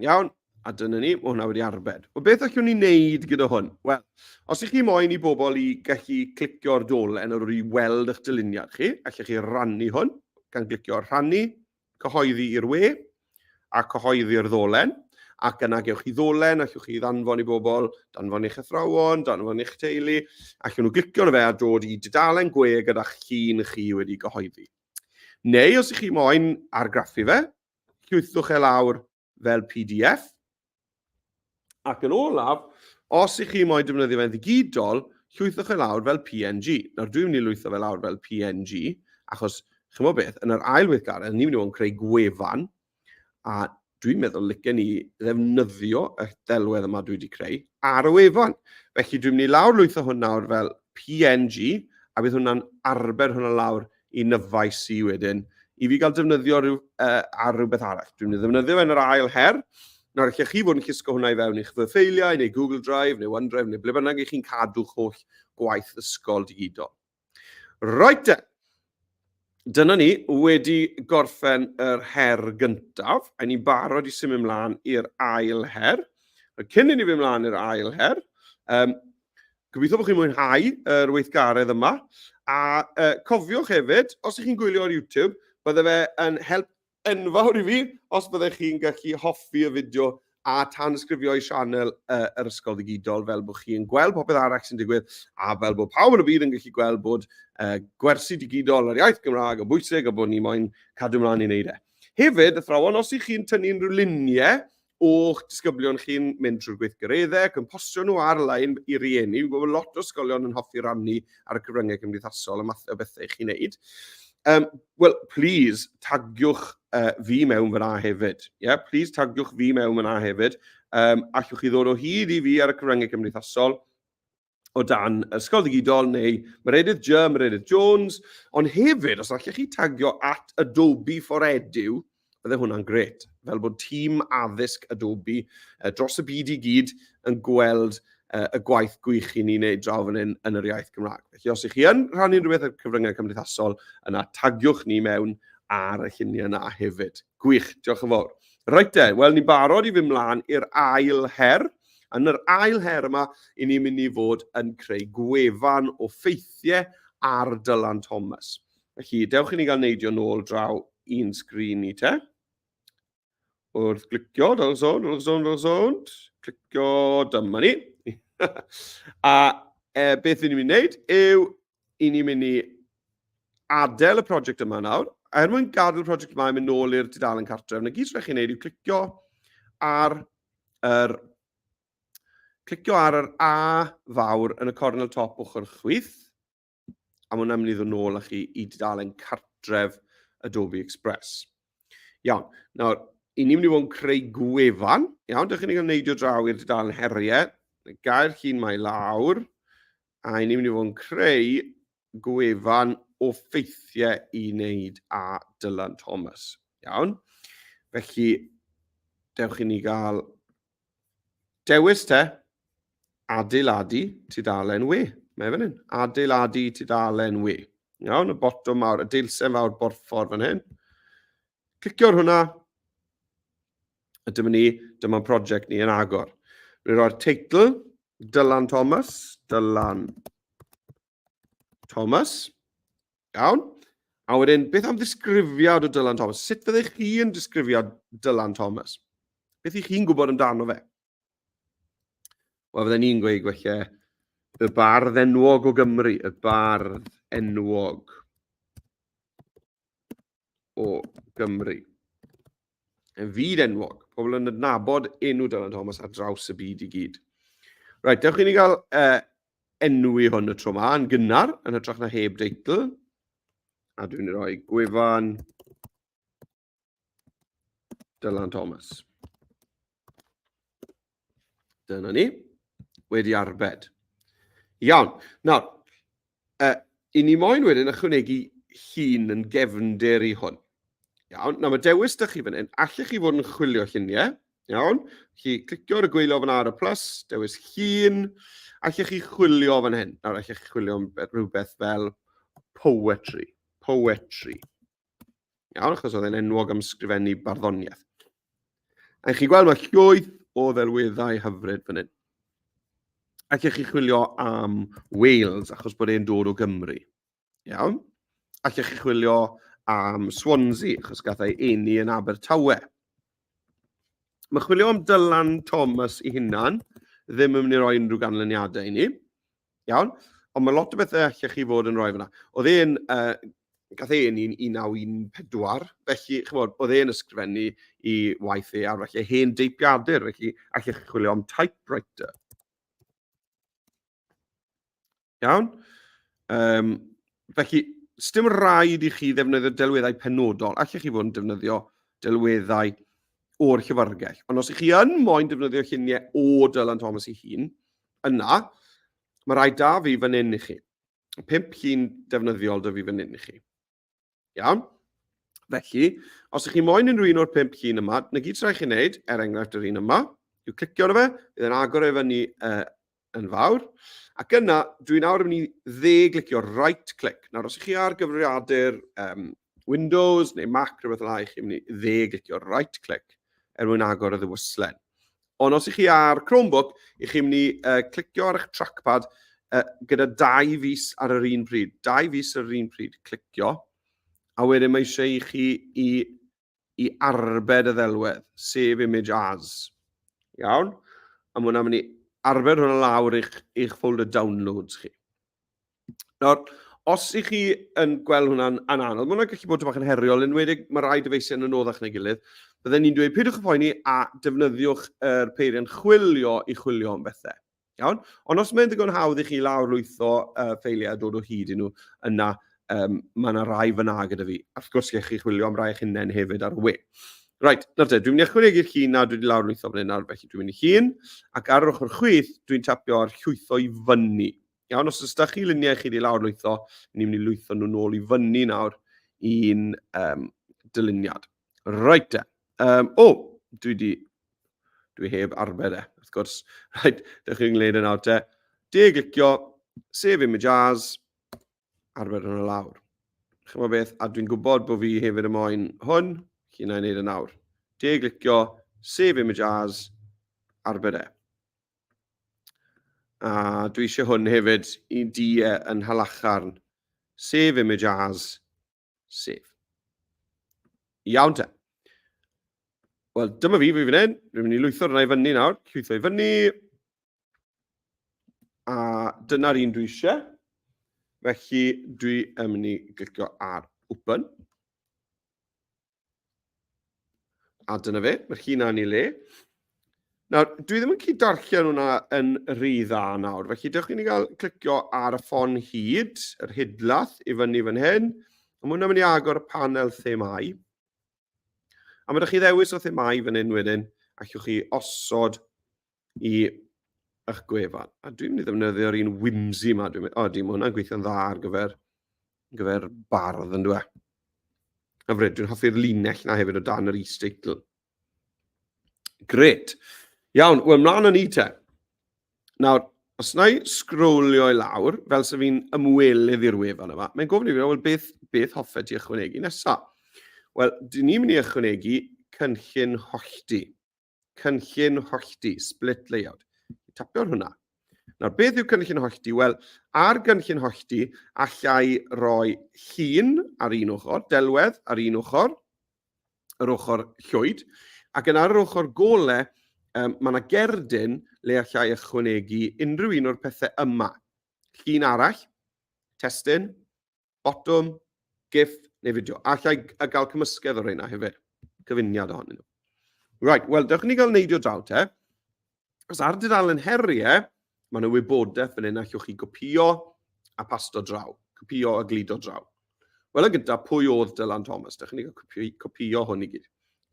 Speaker 1: Iawn, a dyna ni, mae hwnna wedi arbed. O beth allwn ni wneud gyda hwn? Wel, os ych chi moyn i bobl i gallu clicio'r dolen ar ôl i weld eich dyluniad chi, allwch chi rannu hwn gan glicio rhannu, cyhoeddi i'r we a cyhoeddi'r ddolen ac yna gewch chi ddolen, allwch chi ddanfon i bobl, danfon i'ch athrawon, danfon i'ch teulu, allwn nhw glicio na fe a dod i dudalen gwe gyda'ch llun chi wedi gyhoeddi. Neu os ych chi moyn argraffu fe, llwythwch e lawr fel pdf. Ac yn olaf, os ych chi moyn defnyddio fe'n ddigidol, llwythwch e lawr fel PNG. Nawr dwi'n mynd i lwytho fe lawr fel PNG, achos chymod beth, yn yr ail weithgaredd, ni'n mynd i fod yn creu gwefan, a dwi'n meddwl licen ni ddefnyddio y delwedd yma dwi wedi creu ar y wefan. Felly dwi'n mynd i lawr lwytho hwn nawr fel PNG, a bydd hwnna'n arbed hwnna lawr i nyfais i wedyn, i fi gael defnyddio rhyw, uh, ar rhywbeth arall. Dwi'n mynd i ddefnyddio fe yn yr ail her. Nawr, lle chi fod yn llusgo hwnna i fewn i'ch fy ffeiliau, neu Google Drive, neu OneDrive, neu ble bynnag i chi'n cadw'ch holl gwaith ysgol digidol. Roedd te! Dyna ni, wedi gorffen yr her gyntaf, a ni'n barod i symud ymlaen i'r ail her. Cyn i ni fy mlaen i'r ail her, um, Gobeithio bod chi'n mwynhau yr weithgaredd yma, a cofiwch hefyd, os ych chi'n gwylio ar YouTube, bydde fe yn help enfawr i fi os byddech chi'n gallu hoffi y fideo a tanysgrifio i sianel yr Ysgol Ddigidol, fel bod chi'n gweld popeth arall sy'n digwydd, a fel bod pawb yn y byd yn gallu gweld bod gwersi digidol yr iaith Gymraeg yn bwysig a bod ni moyn cadw mlaen i wneud e. Hefyd, athrawon, os ych chi'n tynnu unrhyw luniau o'ch disgyblion chi'n mynd trwy'r gweithgareddau ac yn postio nhw ar-lein i rieni. Fi'n gwybod lot o ysgolion yn hoffi rannu ar y cyfryngau cymdeithasol y math o bethau chi'n neud. Um, Wel, please, tagiwch uh, fi mewn fyna hefyd. Yeah? Please, tagiwch fi mewn fyna hefyd. Um, allwch chi ddod o hyd i fi ar y cyfryngau cymdeithasol. o dan Ysgol Ddigidol neu Meredydd J, Meredydd Jones, ond hefyd, os allech chi tagio at Adobe for Edu, bydde hwnna'n gret, fel bod tîm addysg Adobe uh, dros y byd i gyd yn gweld uh, y gwaith gwych i ni wneud draw fan hyn yn yr iaith Gymraeg. Felly, os ych chi yn rhannu'n rhywbeth ar cyfryngau cymdeithasol, yna tagiwch ni mewn ar y lluniau yna hefyd. Gwych, diolch yn fawr. Reit de, wel ni'n barod i fy mlaen i'r ail her. Yn yr ail her yma, i ni'n mynd i fod yn creu gwefan o ffeithiau ar Dylan Thomas. Felly, dewch i ni gael neidio nôl draw i'n sgrin ni te. Wrth glicio, dyl sôn, dyl sôn, dyl sôn, clicio, dyma ni. a e, beth ni'n mynd i wneud yw i ni'n mynd i adael y prosiect yma nawr, a er mwyn gadael y prosiect yma i mynd nôl i'r dudalen cartref, na gyd rhaid chi'n neud yw clicio ar yr clicio ar yr A fawr yn y cornel top ochr chwith, a mae hwnna'n mynd i ddod nôl â chi i dudalen cartref Adobe Express. Iawn, nawr, i ni'n mynd i fod yn creu gwefan, iawn, dych chi'n ei gwneud o draw i'r dudalen heriau, gair chi'n mae lawr, A i ni mynd i fod yn creu gwefan o ffeithiau i wneud a Dylan Thomas. Iawn? Felly, dewch i ni gael dewis te, adeiladu tudalen we. Mae fan hyn, adeiladu tudalen we. Iawn, y botwm mawr, y deilsen fawr borffor fan hyn. Clicio ar hwnna. A dyma ni, dyma'n prosiect ni yn agor. Rwy'n rhoi'r teitl, Dylan Thomas, Dylan Thomas. Iawn. A wedyn, beth am ddisgrifiad o Dylan Thomas? Sut fyddech chi'n disgrifio Dylan Thomas? Beth ych chi'n gwybod amdano fe? Wel, fydden ni'n gweud gwella y bardd enwog o Gymru, y bardd enwog. o Gymru. Yn fyd enwog, pobl yn adnabod enw Dylan Thomas ar draws y byd i gyd. Rhaid, dewch i ni gael uh, enwi hwn y tro yma yn gynnar, yn hytrach na heb deitl. A dwi'n rhoi gwefan Dylan Thomas. Dyna ni. Wedi arbed. Iawn. Nawr, uh, i ni moyn wedyn ychwanegu hun yn gefnder i hwn. Iawn. Nawr, mae dewis da chi fan hyn. Allech chi fod yn chwilio lluniau. Iawn. Chi clicio ar y gweilio fan ar y plus, dewis hun. Allech chi chwilio fan hyn. Nawr, allech chi chwilio am rhywbeth fel poetry. Poetry. Iawn, achos oedd e'n enwog am sgrifennu barddoniaeth. A chi'n gweld mae llwyth o ddelweddau hyfryd fan hyn. Ac ych chi chwilio am Wales, achos bod e'n dod o Gymru. Iawn? Ac ych chi chwilio am Swansea, achos gath ei eni yn Abertawe. Mae chwilio am Dylan Thomas i hunan ddim yn mynd i roi unrhyw ganlyniadau i ni. Iawn? Ond mae lot o bethau allech chi fod yn rhoi fyna. Oedd e'n, uh, gath e yn 1914, felly, chymod, oedd e'n ysgrifennu i waith e ar felly hen deipiadur, felly allech chi chwilio am typewriter. Iawn? Um, felly, sdim rhaid i chi ddefnyddio delweddau penodol, allech chi fod yn defnyddio delweddau o'r llyfrgell. Ond os ych chi yn moyn defnyddio lluniau o Dylan Thomas ei hun, Yna, mae rhai da fi fan hyn i chi. Pimp llun defnyddiol da fi fan hyn i chi. Iawn? Felly, os ydych chi moyn unrhyw un o'r pimp llun yma, na gyd sy'n rhaid chi'n neud, er enghraifft yr un yma, yw clicio arno fe, bydd e'n agor e fyny uh, yn fawr. Ac yna, dwi'n awr yn mynd i dde glicio right click. Nawr, os ydych chi ar gyfrifiadur um, Windows neu Mac, rhywbeth fel i chi mynd i dde glicio right click er mwyn agor y ddywyslen. Ond os ych chi ar Chromebook, ych chi'n mynd i uh, clicio ar eich trackpad uh, gyda dau fus ar yr un pryd. Dau fus ar yr un pryd, clicio. A wedyn mae eisiau i chi i i arbed y ddelwedd, save image as. Iawn? A mae hwnna'n mynd i arbed hwnna lawr eich, eich folder downloads chi. Nawr, os ych chi yn gweld hwnna'n an anodd, mae hwnna'n gallu bod yn heriol, yn wedi mae rai dyfeisiau yn anoddach na'i gilydd, byddai'n ni'n dweud peidiwch y phoeni a defnyddiwch yr er peiriant chwilio i chwilio am bethau. Iawn? Ond os mae'n ddigon hawdd i chi lawr lwytho uh, ffeiliau a dod o hyd i nhw, yna um, mae yna rai fyna gyda fi. A wrth gwrs, chi chwilio am rai eich hunain hefyd ar y we. Right, nawr te, dwi'n mynd i ychwanegu chi na dwi wedi lawr lwytho fan hyn nawr, felly dwi'n mynd i hun, ac ar yr ochr chwith, dwi'n tapio ar llwytho i fyny. Iawn, os ydych chi luniau chi wedi lawr lwytho, ni'n mynd i lwytho nhw'n ôl i fyny nawr i'n um, dyluniad. Right te. Um, o, oh, dwi di... Dwi heb arfer e, wrth gwrs. Right, dych chi'n gwneud yna te. De glicio, sef im y jazz, arfer yn y lawr. Chyma beth, a dwi'n gwybod bod fi hefyd y moyn hwn, chi'n ei wneud yn awr. De glicio, sef im y jazz, arfer e. A dwi eisiau hwn hefyd i di e yn halacharn. Sef im y jazz, Sef. Iawn te. Wel, dyma fi, fi fan hyn. Fi'n mynd i lwytho rhywun i fyny nawr. Lwytho i fyny. A dyna'r un dwi eisiau. Felly, dwi yn mynd i glicio ar open. A dyna fe, mae'r chi na'n ei le. Nawr, dwi ddim yn cyd darllen hwnna yn rhy dda nawr, felly dewch i ni gael clicio ar y ffon hyd, yr hydlath i fyny fan hyn, a mae hwnna'n mynd i agor y panel themau. A mae ydych chi ddewis o themau fan hyn wedyn, allwch chi osod i eich gwefan. A dwi'n mynd i ddefnyddio'r un whimsy yma. Dwi'n mynd, o, di, mae hwnna'n gweithio'n dda ar gyfer, gyfer bardd yn dweud. A fred, dwi'n hoffi'r linell na hefyd o dan yr e-statel. Gret. Iawn, wel, mlaen â ni te. Nawr, os na i sgrolio i lawr, fel sef fi'n ymwelydd i'r wefan yma, mae'n gofyn i fi, wel, beth, beth hoffet ti ychwanegu nesaf? Wel, dyn ni'n mynd i ychwanegu cynllun hollti. cynllun hollti, split layout. Tapio ar hwnna. Nawr, beth yw cynllun hollti? Wel, ar gynllun hollti, allai roi llun ar un ochr, delwedd ar un ochr, yr ochr llwyd, ac yn ar yr ochr gole, um, mae yna gerdyn le allai ychwanegu unrhyw un o'r pethau yma. Llun arall, testyn, Botwm, gif neu fideo. Allai gael cymysgedd o reina hefyd. Cyfuniad ohonyn nhw. Right, wel, dewch ni gael neidio draw te. Os ar dudalen heriau, mae yna wybodaeth fan hyn allwch chi gopio a pasto draw, copio a glido draw. Wel, yn gyntaf, pwy oedd Dylan Thomas? Dewch ni gael copio hwn i gyd.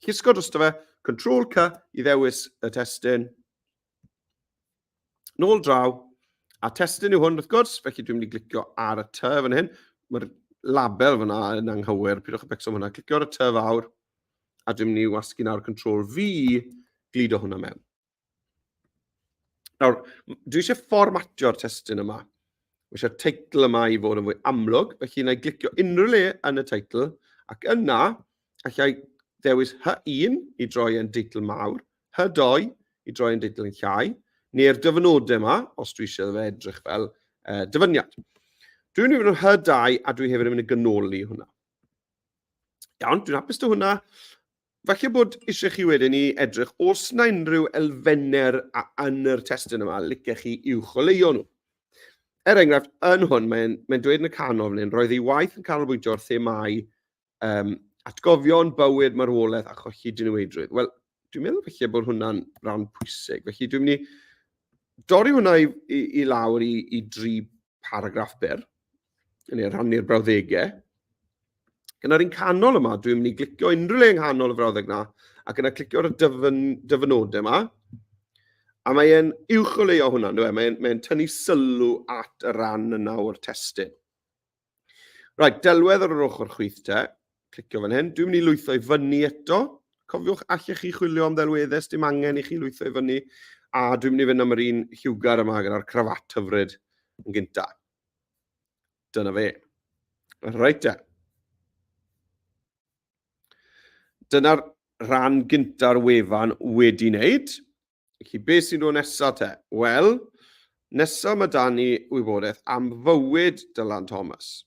Speaker 1: Llusgo drosto fe, Control C i ddewis y testyn, Nôl draw, a testyn yw hwn wrth gwrs, felly dwi'n mynd i glicio ar y ty fan hyn. Mae'r label fyna yn anghywir, pidwch y becso hwnna. Clicio ar y ty fawr, a dwi'n mynd i wasgu nawr control V, glido hwnna mewn. Nawr, dwi eisiau fformatio'r testyn yma. Mae eisiau'r teitl yma i fod yn fwy amlwg, felly yna i glicio unrhyw le yn y teitl, ac yna, Alla i ddewis Hy1 i droi yn deitl mawr, Hy2 i droi yn deitl yn llai, neu'r dyfynodau yma, os dwi eisiau fe edrych fel uh, dyfyniad. Dwi'n mynd i fod yn Hy2 a dwi hefyd yn mynd i gynoli hwnna. Iawn, dwi'n hapus dy hwnna. Falle bod eisiau chi wedyn i edrych os na unrhyw elfennau yn yr testyn yma licech chi i'w choleuo nhw. Er enghraifft, yn hwn, mae'n mae dweud yn y canol fan hyn, roedd ei waith yn canolbwyntio ar themau Um, atgofion, bywyd, marwolaeth a cholli diniweidrwydd. Wel, dwi'n meddwl felly bod hwnna'n rhan pwysig. Felly dwi'n mynd i dorri hwnna i, i, i lawr i, i dri paragraff byr, yn ei rhannu'r brawddegau. Gyda'r un canol yma, dwi'n mynd i glicio unrhyw le yng nghanol y frawddeg yna, ac yna clicio ar y dyfyn, dyfynodau yma, a mae'n uwch o leio hwnna, e? mae'n mae tynnu sylw at y ran yna o'r testyn. Right, delwedd ar yr ochr chwith te. Clicio fan hyn. Dwi'n mynd i lwytho i fyny eto. Cofiwch, allech chi chwilio am ddelweddau, dim angen i chi lwytho i fyny. A dwi'n mynd i fynd am yr un hiwgar yma gyda'r crafat hyfryd yn gynta. Dyna fe. Reit e. Dyna'r rhan gynta'r wefan wedi wneud. Felly, be sy'n dod nesa te? Wel, nesa mae da ni wybodaeth am fywyd Dylan Thomas.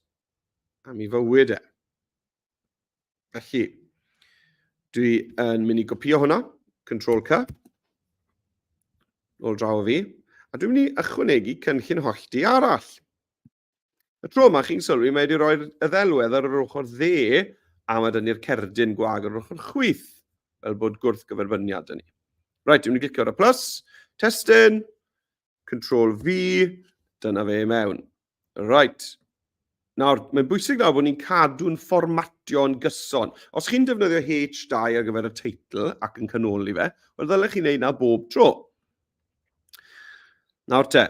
Speaker 1: Am ei fywyd e. Felly, dwi yn mynd i gopio hwnna, Control C, ôl draw o fi, a dwi'n mynd i ychwanegu cynllun hollti arall. Y tro yma, chi'n sylwi, mae wedi rhoi'r ddelwedd ar yr ochr dde a mae dynnu'r cerdyn gwag ar yr ochr chwith, fel bod gwrth gyferbyniad yn ni. Right, dwi'n mynd i glicio ar y plus, testyn, control V, dyna fe mewn. Right. Nawr, mae'n bwysig nawr bod ni'n cadw'n fformatio yn gyson. Os chi'n defnyddio H2 ar gyfer y teitl ac yn canoli fe, wel ddylech chi'n neud na bob tro. Nawr te,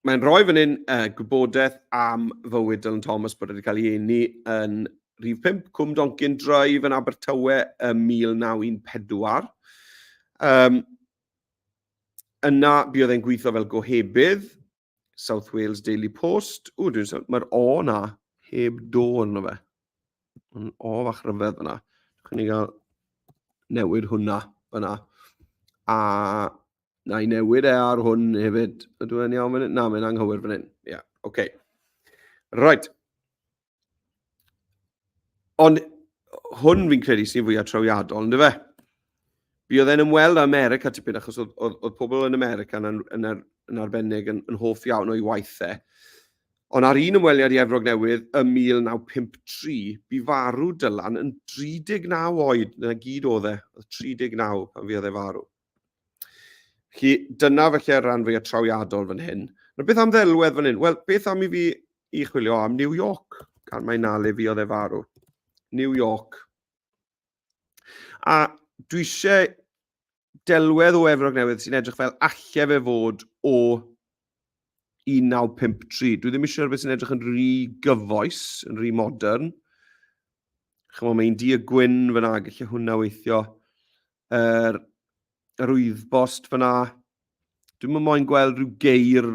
Speaker 1: mae'n rhoi fan hyn uh, gwybodaeth am fywyd Dylan Thomas bod wedi cael ei eni yn rhif 5, Cwm Doncyn Drive yn Abertawe ym 1914. Um, yna, buodd e'n gweithio fel gohebydd, South Wales Daily Post. O, dwi'n sôn, mae'r o na, heb do yno fe. Mae'n o fach rhyfedd yna. Dwi'n ni gael newid hwnna yna. A Na i newid e ar hwn hefyd. Ydw e'n iawn fan hyn? Na, mae'n anghywir fan hyn. Ie, yeah, oce. Okay. Right. Ond hwn fi'n credu sy'n fwy atrawiadol, ynddo fe? Fi oedd e'n ymweld â America tipyn, achos oedd, oedd, oedd pobl yn America yn, yn, yn, yn arbennig yn, yn hoff iawn o'i waith e. Ond ar un ymweliad i Efrog Newydd ym 1953, bu farw Dylan yn 39 oed, na gyd oedd e, oedd 39 pan fi oedd e farw. Felly, dyna felly'r rhan fwyaf trawiadol fan hyn. Na beth am ddelwedd fan hyn? Wel, beth am i fi i chwilio am New York? Gan mae na le fi oedd e farw. New York. A dwi eisiau delwedd o Efrog Newydd sy'n edrych fel allai fe fod o 1953. Dwi ddim eisiau rhywbeth sy'n edrych yn rhy gyfoes, yn rhy modern. Chymod, mae'n di y gwyn fyna, gallu hwnna weithio. Er, yr wyddbost fyna, dwi'n mynd moyn gweld rhyw geir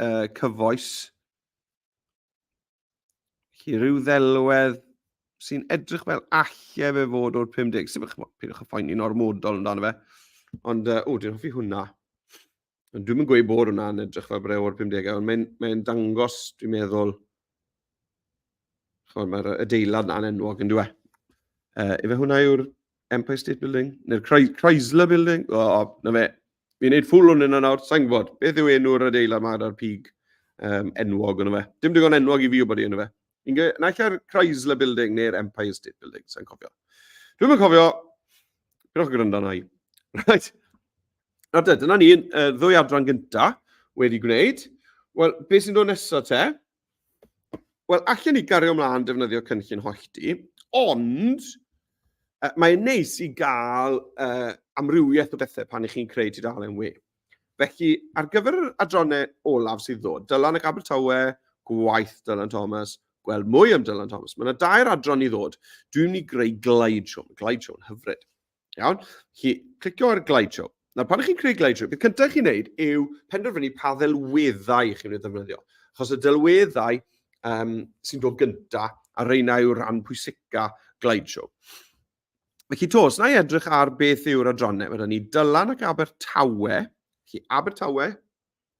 Speaker 1: uh, cyfoes. Felly rhyw ddelwedd sy'n edrych fel alle fe fod o'r 50. Sef eich bod, pidwch y ffaini'n ormodol amdano fe. Ond, uh, o, dwi'n hoffi hwnna. Ond dwi'n mynd gweud bod hwnna'n edrych fel breu o'r 50au, ond mae'n mae dangos, dwi'n meddwl, chymod, mae'r adeilad na'n enwog yn dweud. Uh, efe hwnna yw'r Empire State Building, neu'r Chrysler Building. O, oh, na fe. Fi'n neud ffwl o'n yna nawr, sa'n gwybod. Beth yw enw'r adeilad yma gyda'r pig um, enwog yna fe? Dim digon enwog i fi o bod i yna fe. Fi'n gweud, na ella'r Chrysler Building neu'r Empire State Building, sa'n cofio. Dwi'n mynd cofio, byrwch gwrando na i. Right. Na te, dyna ni, uh, ddwy adran gynta wedi gwneud. Wel, beth sy'n dod nesaf te? Wel, allan ni gario ymlaen defnyddio cynllun hollti, ond uh, mae'n neis i gael uh, amrywiaeth o bethau pan ych chi'n creu tudalen we. Felly, ar gyfer yr adronau olaf sydd ddod, Dylan ac Abertawe, gwaith Dylan Thomas, gweld mwy am Dylan Thomas. Mae yna dair adron i ddod. Dwi'n mynd i greu glideshow, glideshow yn hyfryd. Iawn? Chi clicio ar glide show. Nawr, pan ych chi'n creu glide show, beth cyntaf chi'n neud yw penderfynu pa ddelweddau chi'n mynd i ddefnyddio. Chos y delweddau um, sy'n dod gyntaf, a reina yw rhan pwysica glide show. Felly to, os na i edrych ar beth yw'r adrannau, mae ni Dylan ac Abertawe. Felly Abertawe,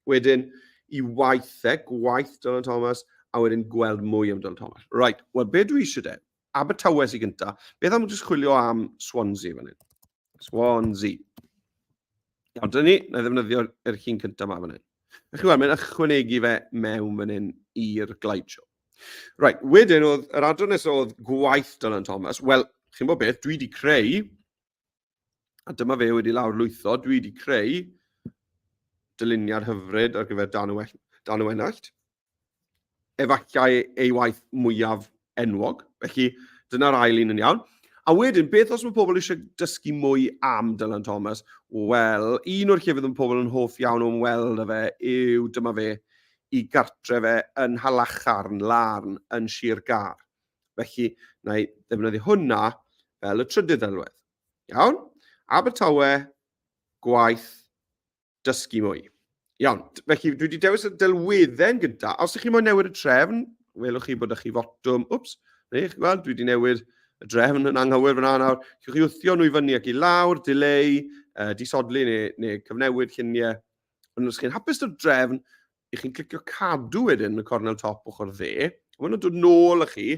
Speaker 1: Wedyn, i waith e, gwaith Dylan Thomas, a wedyn gweld mwy am Dylan Thomas. Right, wel, be dwi eisiau de? Abertawe sy'n gynta. Beth am jyst chwilio am Swansea fan hyn? Swansea. Ond dyn ni, na ddefnyddio'r er chi'n cyntaf ma fan hyn. A chi weld, mae'n ychwanegu fe mewn fan hyn i'r glide show. Right, wedyn oedd, yr adran nesaf oedd gwaith Dylan Thomas. Wel, chi'n bod beth, dwi wedi creu A dyma fe wedi lawr lwytho. Dwi wedi creu dyluniad hyfryd ar gyfer dan y, dan y wenallt. Efallai ei waith mwyaf enwog. Felly, dyna'r ail un yn iawn. A wedyn, beth os mae pobl eisiau dysgu mwy am Dylan Thomas? Wel, un o'r llefydd yn pobl yn hoff iawn o'n weld y fe yw dyma fe i gartre fe yn Halacharn, Larn, yn Sir Gar. Felly, na i ddefnyddio hwnna fel y trydydd ddelwedd. Iawn? Abertawe, gwaith, dysgu mwy. Iawn, felly dwi wedi dewis y delwedden gyda. Os ydych chi moyn newid y trefn, welwch chi bod ydych chi fotwm, wps, neu chi gweld, dwi wedi newid y drefn yn anghywir fyna nawr. Chiwch chi wthio nhw i fyny ac i lawr, dileu, uh, disodli neu, neu cyfnewid lluniau. Ond os chi'n hapus o'r drefn, i chi'n clicio cadw wedyn y cornel top ochr dde, a maen nhw'n dod nôl â chi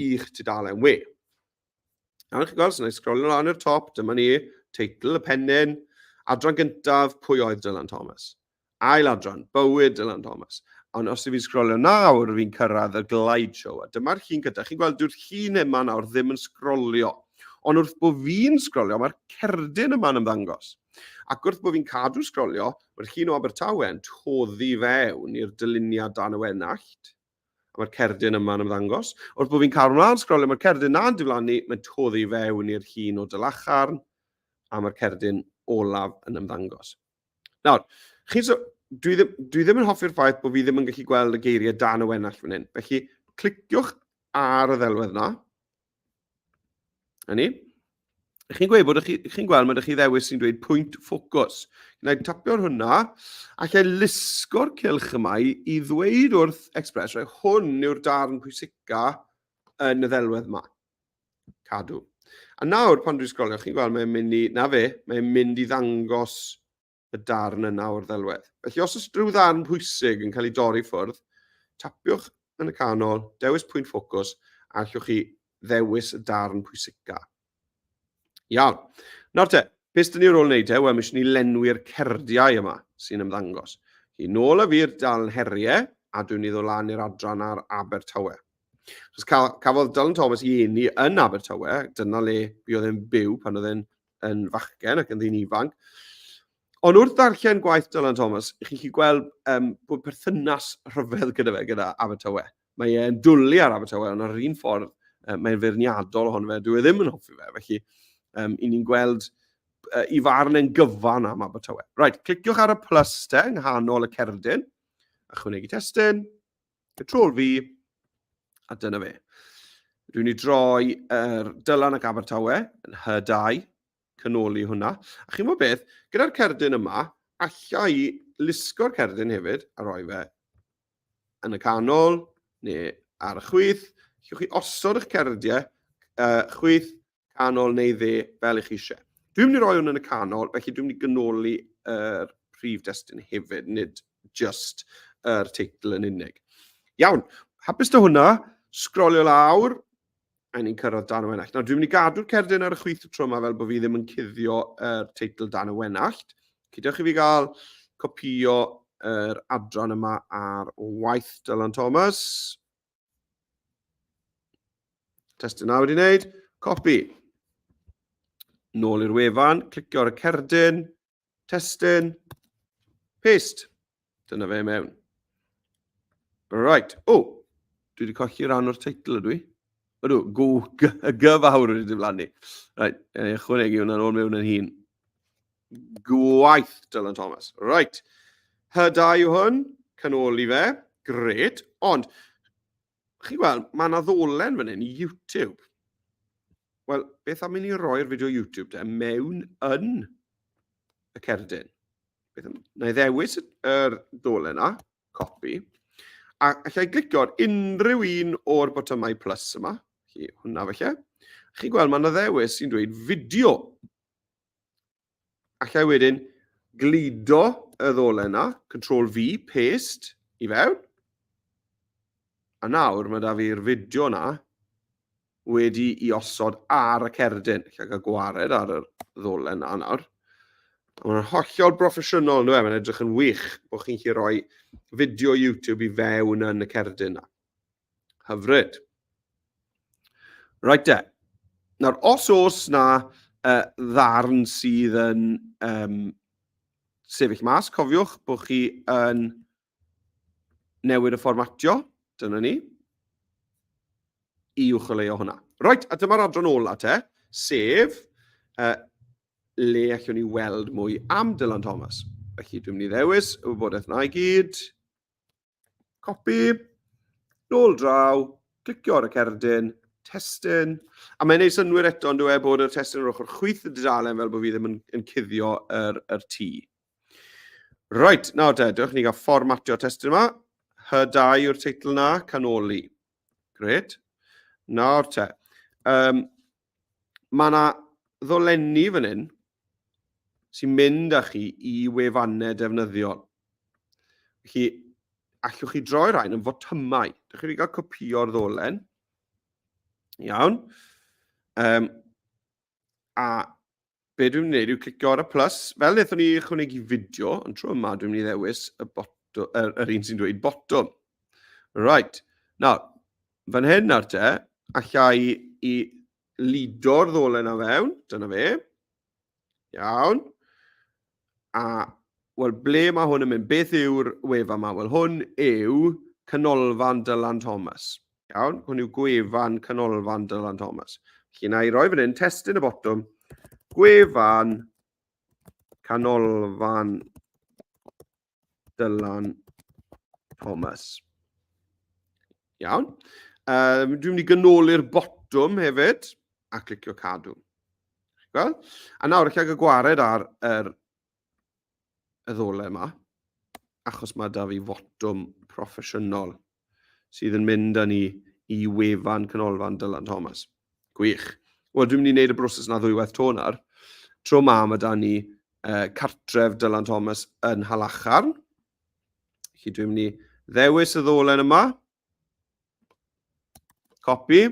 Speaker 1: i'ch tudalen we. Nawr chi'n gweld, so na i sgrolio lan i'r top, dyma ni, teitl y pennyn, adran gyntaf, pwy oedd Dylan Thomas? Ail adran, bywyd Dylan Thomas. Ond os ydw i'n sgrolio nawr, fi'n cyrraedd y glide show. A dyma'r llun gyda. Chi'n gweld, dyw'r llun yma nawr ddim yn sgrolio. Ond wrth bod fi'n sgrolio, mae'r cerdyn yma'n ymddangos. Ac wrth bod fi'n cadw sgrolio, mae'r llun o Abertawe yn toddi fewn i'r dyluniad dan y wenallt. A mae'r cerdyn yma'n ymddangos. Wrth bod fi'n cadw mlaen sgrolio, mae'r cerdyn na'n diflannu, mae'n toddi fewn i'r llun o dylacharn, a mae'r cerdyn olaf yn ymddangos. Nawr, chi, so, dwi, ddim, dwi ddim yn hoffi'r ffaith bod fi ddim yn gallu gweld y geiriau dan y wenallt fan hyn. Felly, cliciwch ar y ddelwedd yna, A ni? Ych chi'n gweud bod ych chi'n chi gweld mae ydych chi ddewis sy'n dweud pwynt ffocws. Gwna i tapio ar hwnna, a lle lusgo'r cilch yma i, i ddweud wrth Express, rhaid hwn yw'r darn pwysica yn y ddelwedd yma. Cadw. A nawr, pan dwi'n sgrolio, chi'n gweld mae'n mynd i, na fe, mae'n mynd i ddangos y darn yna o'r ddelwedd. Felly os oes rhyw ddarn pwysig yn cael ei dorri ffwrdd, tapiwch yn y canol, dewis pwynt ffocws, a allwch chi ddewis y darn pwysica. Iawn. Nawr te, beth dyn ni ar ôl wneud e? Wel, mi eisiau ni lenwi'r cerdiau yma sy'n ymddangos. Chi nôl y fur dal heriau, a dwi'n ni ddod lan i'r adran ar Abertawe. Chos cafodd Dylan Thomas i eni yn Abertawe, dyna le mi oedd e'n byw pan oedd e'n yn fachgen ac yn ddyn ifanc. Ond wrth ddarllen gwaith Dylan Thomas, chi'n chi gweld um, bod perthynas rhyfedd gyda fe, gyda Abertawe. Mae e'n dwlu ar Abertawe, ond ar un ffordd, um, mae'n feirniadol ohono fe, dwi e ddim yn hoffi fe. Felly, um, i ni'n gweld uh, i farn yn gyfan am Abertawe. Right, cliciwch ar y plus te, yng nghanol y cerdyn, a chwnegu testyn. Control V, a dyna fe. Rwy'n ni droi yr er dylan ac Abertawe yn H2, canoli hwnna. A chi'n gwybod beth, gyda'r cerdyn yma, allai lusgo'r cerdyn hefyd a roi fe yn y canol neu ar y chwyth. Llwch chi osod eich cerdiau uh, chwyth Canol neu dde, fel i chi eisiau. Dwi'n mynd i roi hwn yn y canol, felly dwi'n mynd i gynoli yr prif destun hefyd, nid just yr er teitl yn unig. Iawn, hapus da hwnna, sgrolio lawr, a ni'n cyrraedd dan y wenallt. Nawr, dwi'n mynd i gadw'r cerdyn ar y chwith y tro yma fel bod fi ddim yn cuddio yr er teitl dan y wenallt. Cydewch i fi gael copio yr er adran yma ar waith Dylan Thomas. Test yna wedi wneud. Copy. Nôl i'r wefan, clicio ar y cerdyn, testyn, paste. Dyna fe mewn. Right. O, oh, dwi wedi colli rhan o'r teitl ydw i. Ydw, go, gyfawr wedi diflannu. Right, e, ychwanegu hwnna'n ôl mewn yn hun. Gwaith, Dylan Thomas. Right. Hyda yw hwn, canoli fe. Gret. Ond, chi gweld, mae yna ddolen fan hyn i YouTube. Wel, beth am i ni roi'r fideo YouTube de mewn yn y cerdyn? Beth am, na i ddewis yr ddolen yna, copi. A allai glicio ar unrhyw un o'r botymau plus yma. Chi, hwnna felly. Chi gweld, mae yna ddewis sy'n dweud fideo. Allai wedyn gludo y ddolen yna, Control V, paste, i fewn. A nawr mae da fi'r fideo yna wedi i osod ar y cerdyn. Lle cael gwared ar y ddolen yna nawr. Mae'n hollol broffesiynol, nhw e? Mae'n edrych yn wych bod chi'n chi roi fideo YouTube i fewn yn y cerdyn yna. Hyfryd. Reit de. Nawr, os oes na uh, ddarn sydd yn um, sefyll mas, cofiwch bod chi yn newid y fformatio, dyna ni, i ucholeo hwnna. Reit, a dyma'r adran ola te, sef uh, le allwn ni weld mwy am Dylan Thomas. Felly dwi'n mynd i ddewis y wybodaeth yna i gyd. Copi, nôl draw, clicio ar y cerdyn, testyn. A mae'n ei synwyr eto yn dweud bod y testyn yr ochr chwyth y dudalen fel bod fi ddim yn, yn cuddio yr, yr tŷ. Right, nawr te, dewch ni gael fformatio testyn yma. Hydau yw'r teitl na, canoli. Gret. Nawr te. Um, Mae yna ddolenni fan hyn sy'n mynd â chi i wefannau defnyddiol. Felly, allwch chi droi rhain yn fotymau. Dych chi'n cael copio'r ddolen. Iawn. Um, a be dwi'n gwneud yw clicio ar y plus, fel wnaethon ni ychwanegu fideo, ond tro yma dwi'n mynd i ddewis y botwm, yr, er, yr un sy'n dweud botwm. Right, nawr, fan hyn nawr te, allai i lido'r ddolen a fewn, dyna fe. Iawn. A, wel, ble mae hwn yn mynd? Beth yw'r wefan yma? Wel, hwn yw Canolfan Dylan Thomas. Iawn, hwn yw gwefan Canolfan Dylan Thomas. Felly, na i roi fan hyn, testyn y botwm, gwefan Canolfan Dylan Thomas. Iawn. Um, dwi'n mynd i gynoli'r botwm hefyd a clicio cadw. Gweld? A nawr, eich ag y gwared ar yr y ddole yma, achos mae da fi fotwm proffesiynol sydd yn mynd â ni i wefan Canolfan Dylan Thomas. Gwych. Wel, dwi'n mynd i wneud y broses yna ddwywaith to nawr. Tro ma, mae da ni uh, cartref Dylan Thomas yn Halacharn. Felly dwi'n mynd i ddewis y ddolen yma. Copy.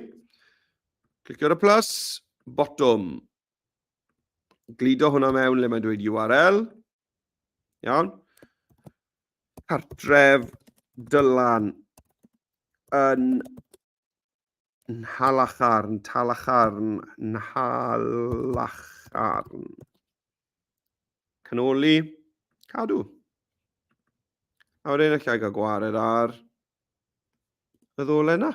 Speaker 1: Clicio ar y plus. Bottom. Glido hwnna mewn le mae'n dweud URL. Iawn. cartref Dylan yn Nhalacharn, Talacharn, Nhalacharn. Canoli, cadw. A wedyn allai gael gwared ar y ddole yna.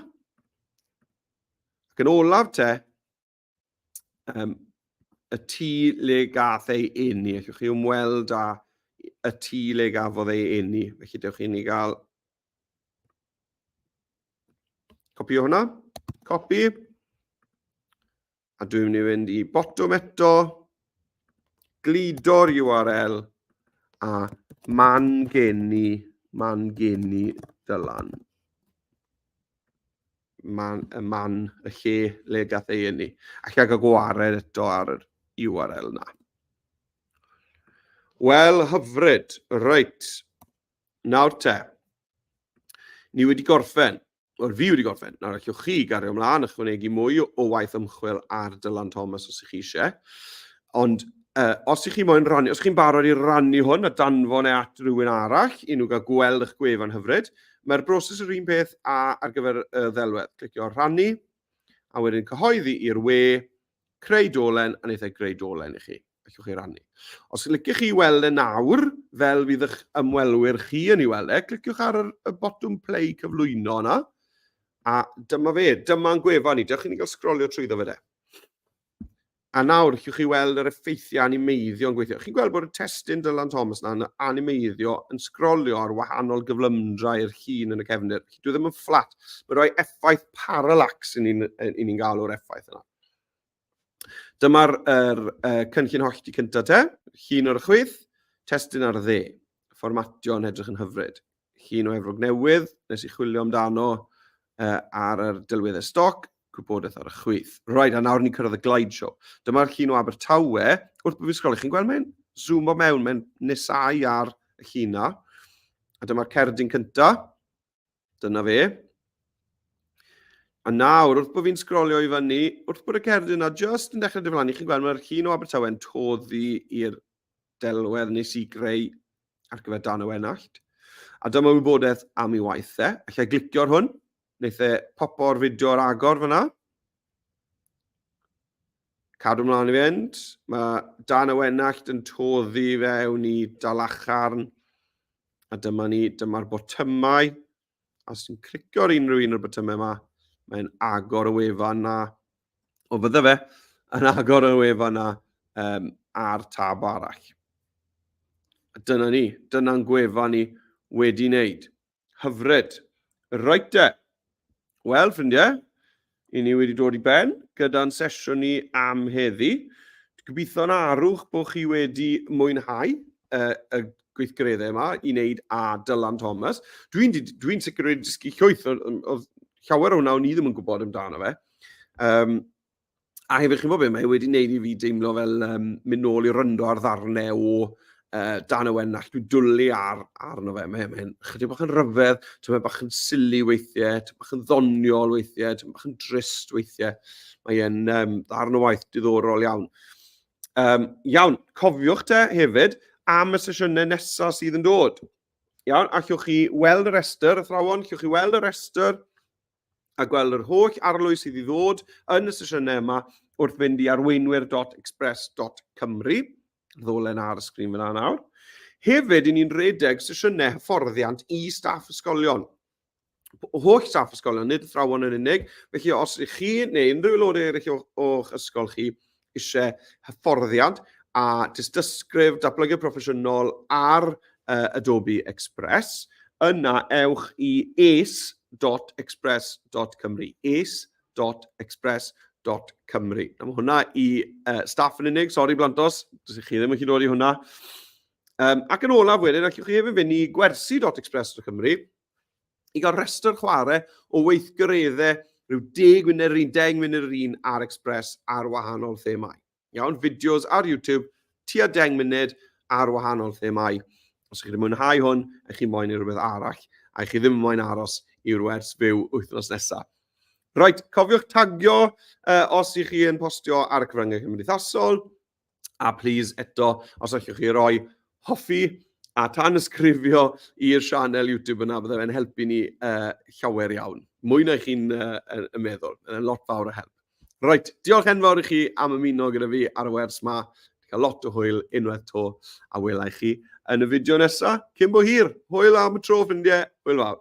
Speaker 1: Ac yn olaf te, um, y tŷ le gath ei enni. Allwch chi ymweld â y tŷ le gafodd ei enni. Felly dewch i ni gael copi o hwnna. Copi. A dwi'n mynd i fynd i botwm eto. Glido'r URL a man geni, man geni dylan. man, y man, y lle le gath ei enni. Ac gael gwared eto ar yr URL na. Wel, hyfryd. Reit. Nawr te. Ni wedi gorffen. Wel, fi wedi gorffen. Nawr, allwch chi gario ymlaen a chwanegu mwy o waith ymchwil ar Dylan Thomas os ych chi eisiau. Ond uh, os ych chi moyn rannu, os chi'n barod i rannu hwn a danfon e at rhywun arall, i nhw gael gweld eich gwefan hyfryd, Mae'r broses yr un peth a ar gyfer y ddelwedd. Clicio rhannu, a wedyn cyhoeddi i'r we, creu dolen, a wnaethau greu dolen i chi. Allwch chi rannu. Os yn licioch chi weld e nawr, fel fydd eich ymwelwyr chi yn ei weld e, cliciwch ar y botwm play cyflwyno yna, a dyma fe, dyma'n gwefan ni. Dewch i ni gael sgrolio trwy ddo fe de. A nawr, chi'n chi weld yr effeithiau animeiddio yn gweithio. Chi'n gweld bod y testyn Dylan Thomas yna yn animeiddio, yn sgrolio ar wahanol gyflymdrau i'r llun yn y cefnir. Felly, dwi ddim yn fflat. Mae'n rhoi effaith parallax i ni'n ni, ni gael o'r effaith yna. Dyma'r er, er, cynllun hollti cyntaf te, llun o'r chwyth, testyn ar dde. Fformatio yn edrych yn hyfryd. Llun o Efrog Newydd, nes i chwilio amdano uh, ar yr delweddau stoc, gwybodaeth ar y chwith. Right, a nawr ni'n cyrraedd y glide show. Dyma'r llun o Abertawe, wrth bod fi'n sgrolio, chi'n gweld mae'n zoom o mewn, mae'n nesau ar y llun na. A dyma'r cerdyn cynta. Dyna fe. A nawr, wrth bod fi'n sgrolio i fyny, wrth bod y cerdyn yna just yn dechrau diflannu, chi'n gweld mae'r llun o Abertawe yn toddi i'r delwedd nes i greu ar gyfer dan y wenallt. A dyma wybodaeth am ei waith e. Alla i glicio ar hwn. Wnaeth e popo o'r fideo ar agor fyna. Cadw mlaen i fynd. Mae dan y wenallt yn toddi fewn i dalacharn. A dyma ni, dyma'r botymau. os ti'n cricio ar unrhyw un o'r botymau yma, mae'n agor y wefan na, o fydde fe, yn agor y wefan na um, ar tab arall. Dyna ni, dyna'n gwefan ni wedi wneud. Hyfryd. Roet e. Wel, ffrindiau, I ni wedi dod i ben gyda'n sesiwn ni am heddi. Gobeithio'n arwch bod chi wedi mwynhau uh, y gweithgareddau yma i wneud a Dylan Thomas. Dwi'n dwi, dwi sicr wedi dysgu llwyth, oedd llawer o hwnna o'n i ddim yn gwybod amdano fe. Um, a hefyd chi'n bod beth, mae e wedi wneud i fi deimlo fel um, mynd nôl i ryndo ar ddarnau o uh, dan y wen nall, dwi'n dwlu ar, arno fe, mae'n mae chydig bach yn ryfedd, ti'n bach yn sili weithiau, ti'n bach yn ddoniol weithiau, ti'n bach yn drist weithiau, mae'n um, ddarn o waith diddorol iawn. Um, iawn, cofiwch te hefyd am y sesiynau nesaf sydd yn dod. Iawn, a chwch chi weld y restr, y thrawon, chwch chi weld y restr a gweld yr holl arlwy sydd i ddod yn y sesiynau yma wrth fynd i arweinwyr.express.cymru. ddolen ar y sgrin fyna nawr. Hefyd, i ni'n redeg sesiynau hyfforddiant i staff ysgolion. Holl staff ysgolion, nid athrawon yn unig. Felly, os ydych chi neu unrhyw aelodau eraill o'ch ysgol chi eisiau hyfforddiant a dystysgrif datblygu proffesiynol ar uh, Adobe Express, yna ewch i ace.express.cymru, ace www.express.cymru. Am hwnna i uh, staff yn unig, sori Blantos, dys chi ddim yn gallu dod i hwnna. Um, ac yn olaf wedyn, allwch chi hefyd fynd i gwersi.express.cymru i gael rhestr chwarae o weithgareddau rhyw 10 munud yr un, 10 munud yr un ar Express ar wahanol themau. Iawn, fideos ar YouTube, tua 10 munud ar wahanol themau. Os ydych chi wedi mwynhau hwn, a chi moyn i rhywbeth arall, a chi ddim yn moyn aros i'r wers fyw wythnos nesaf. Right, cofiwch tagio uh, os ych chi yn postio ar y cyfryngau cymdeithasol, a please eto, os allwch chi roi hoffi a tan ysgrifio i'r sianel YouTube yna, byddai fe'n helpu ni uh, llawer iawn. Mwy na chi'n uh, yn meddwl, yn lot fawr o help. Reit, diolch enfawr i chi am ymuno gyda fi ar y wers ma. Dwi'n cael lot o hwyl unwaith to, a wela i chi yn y fideo nesaf. Cyn bo hir, hwyl am y tro ffrindiau, hwyl fawr.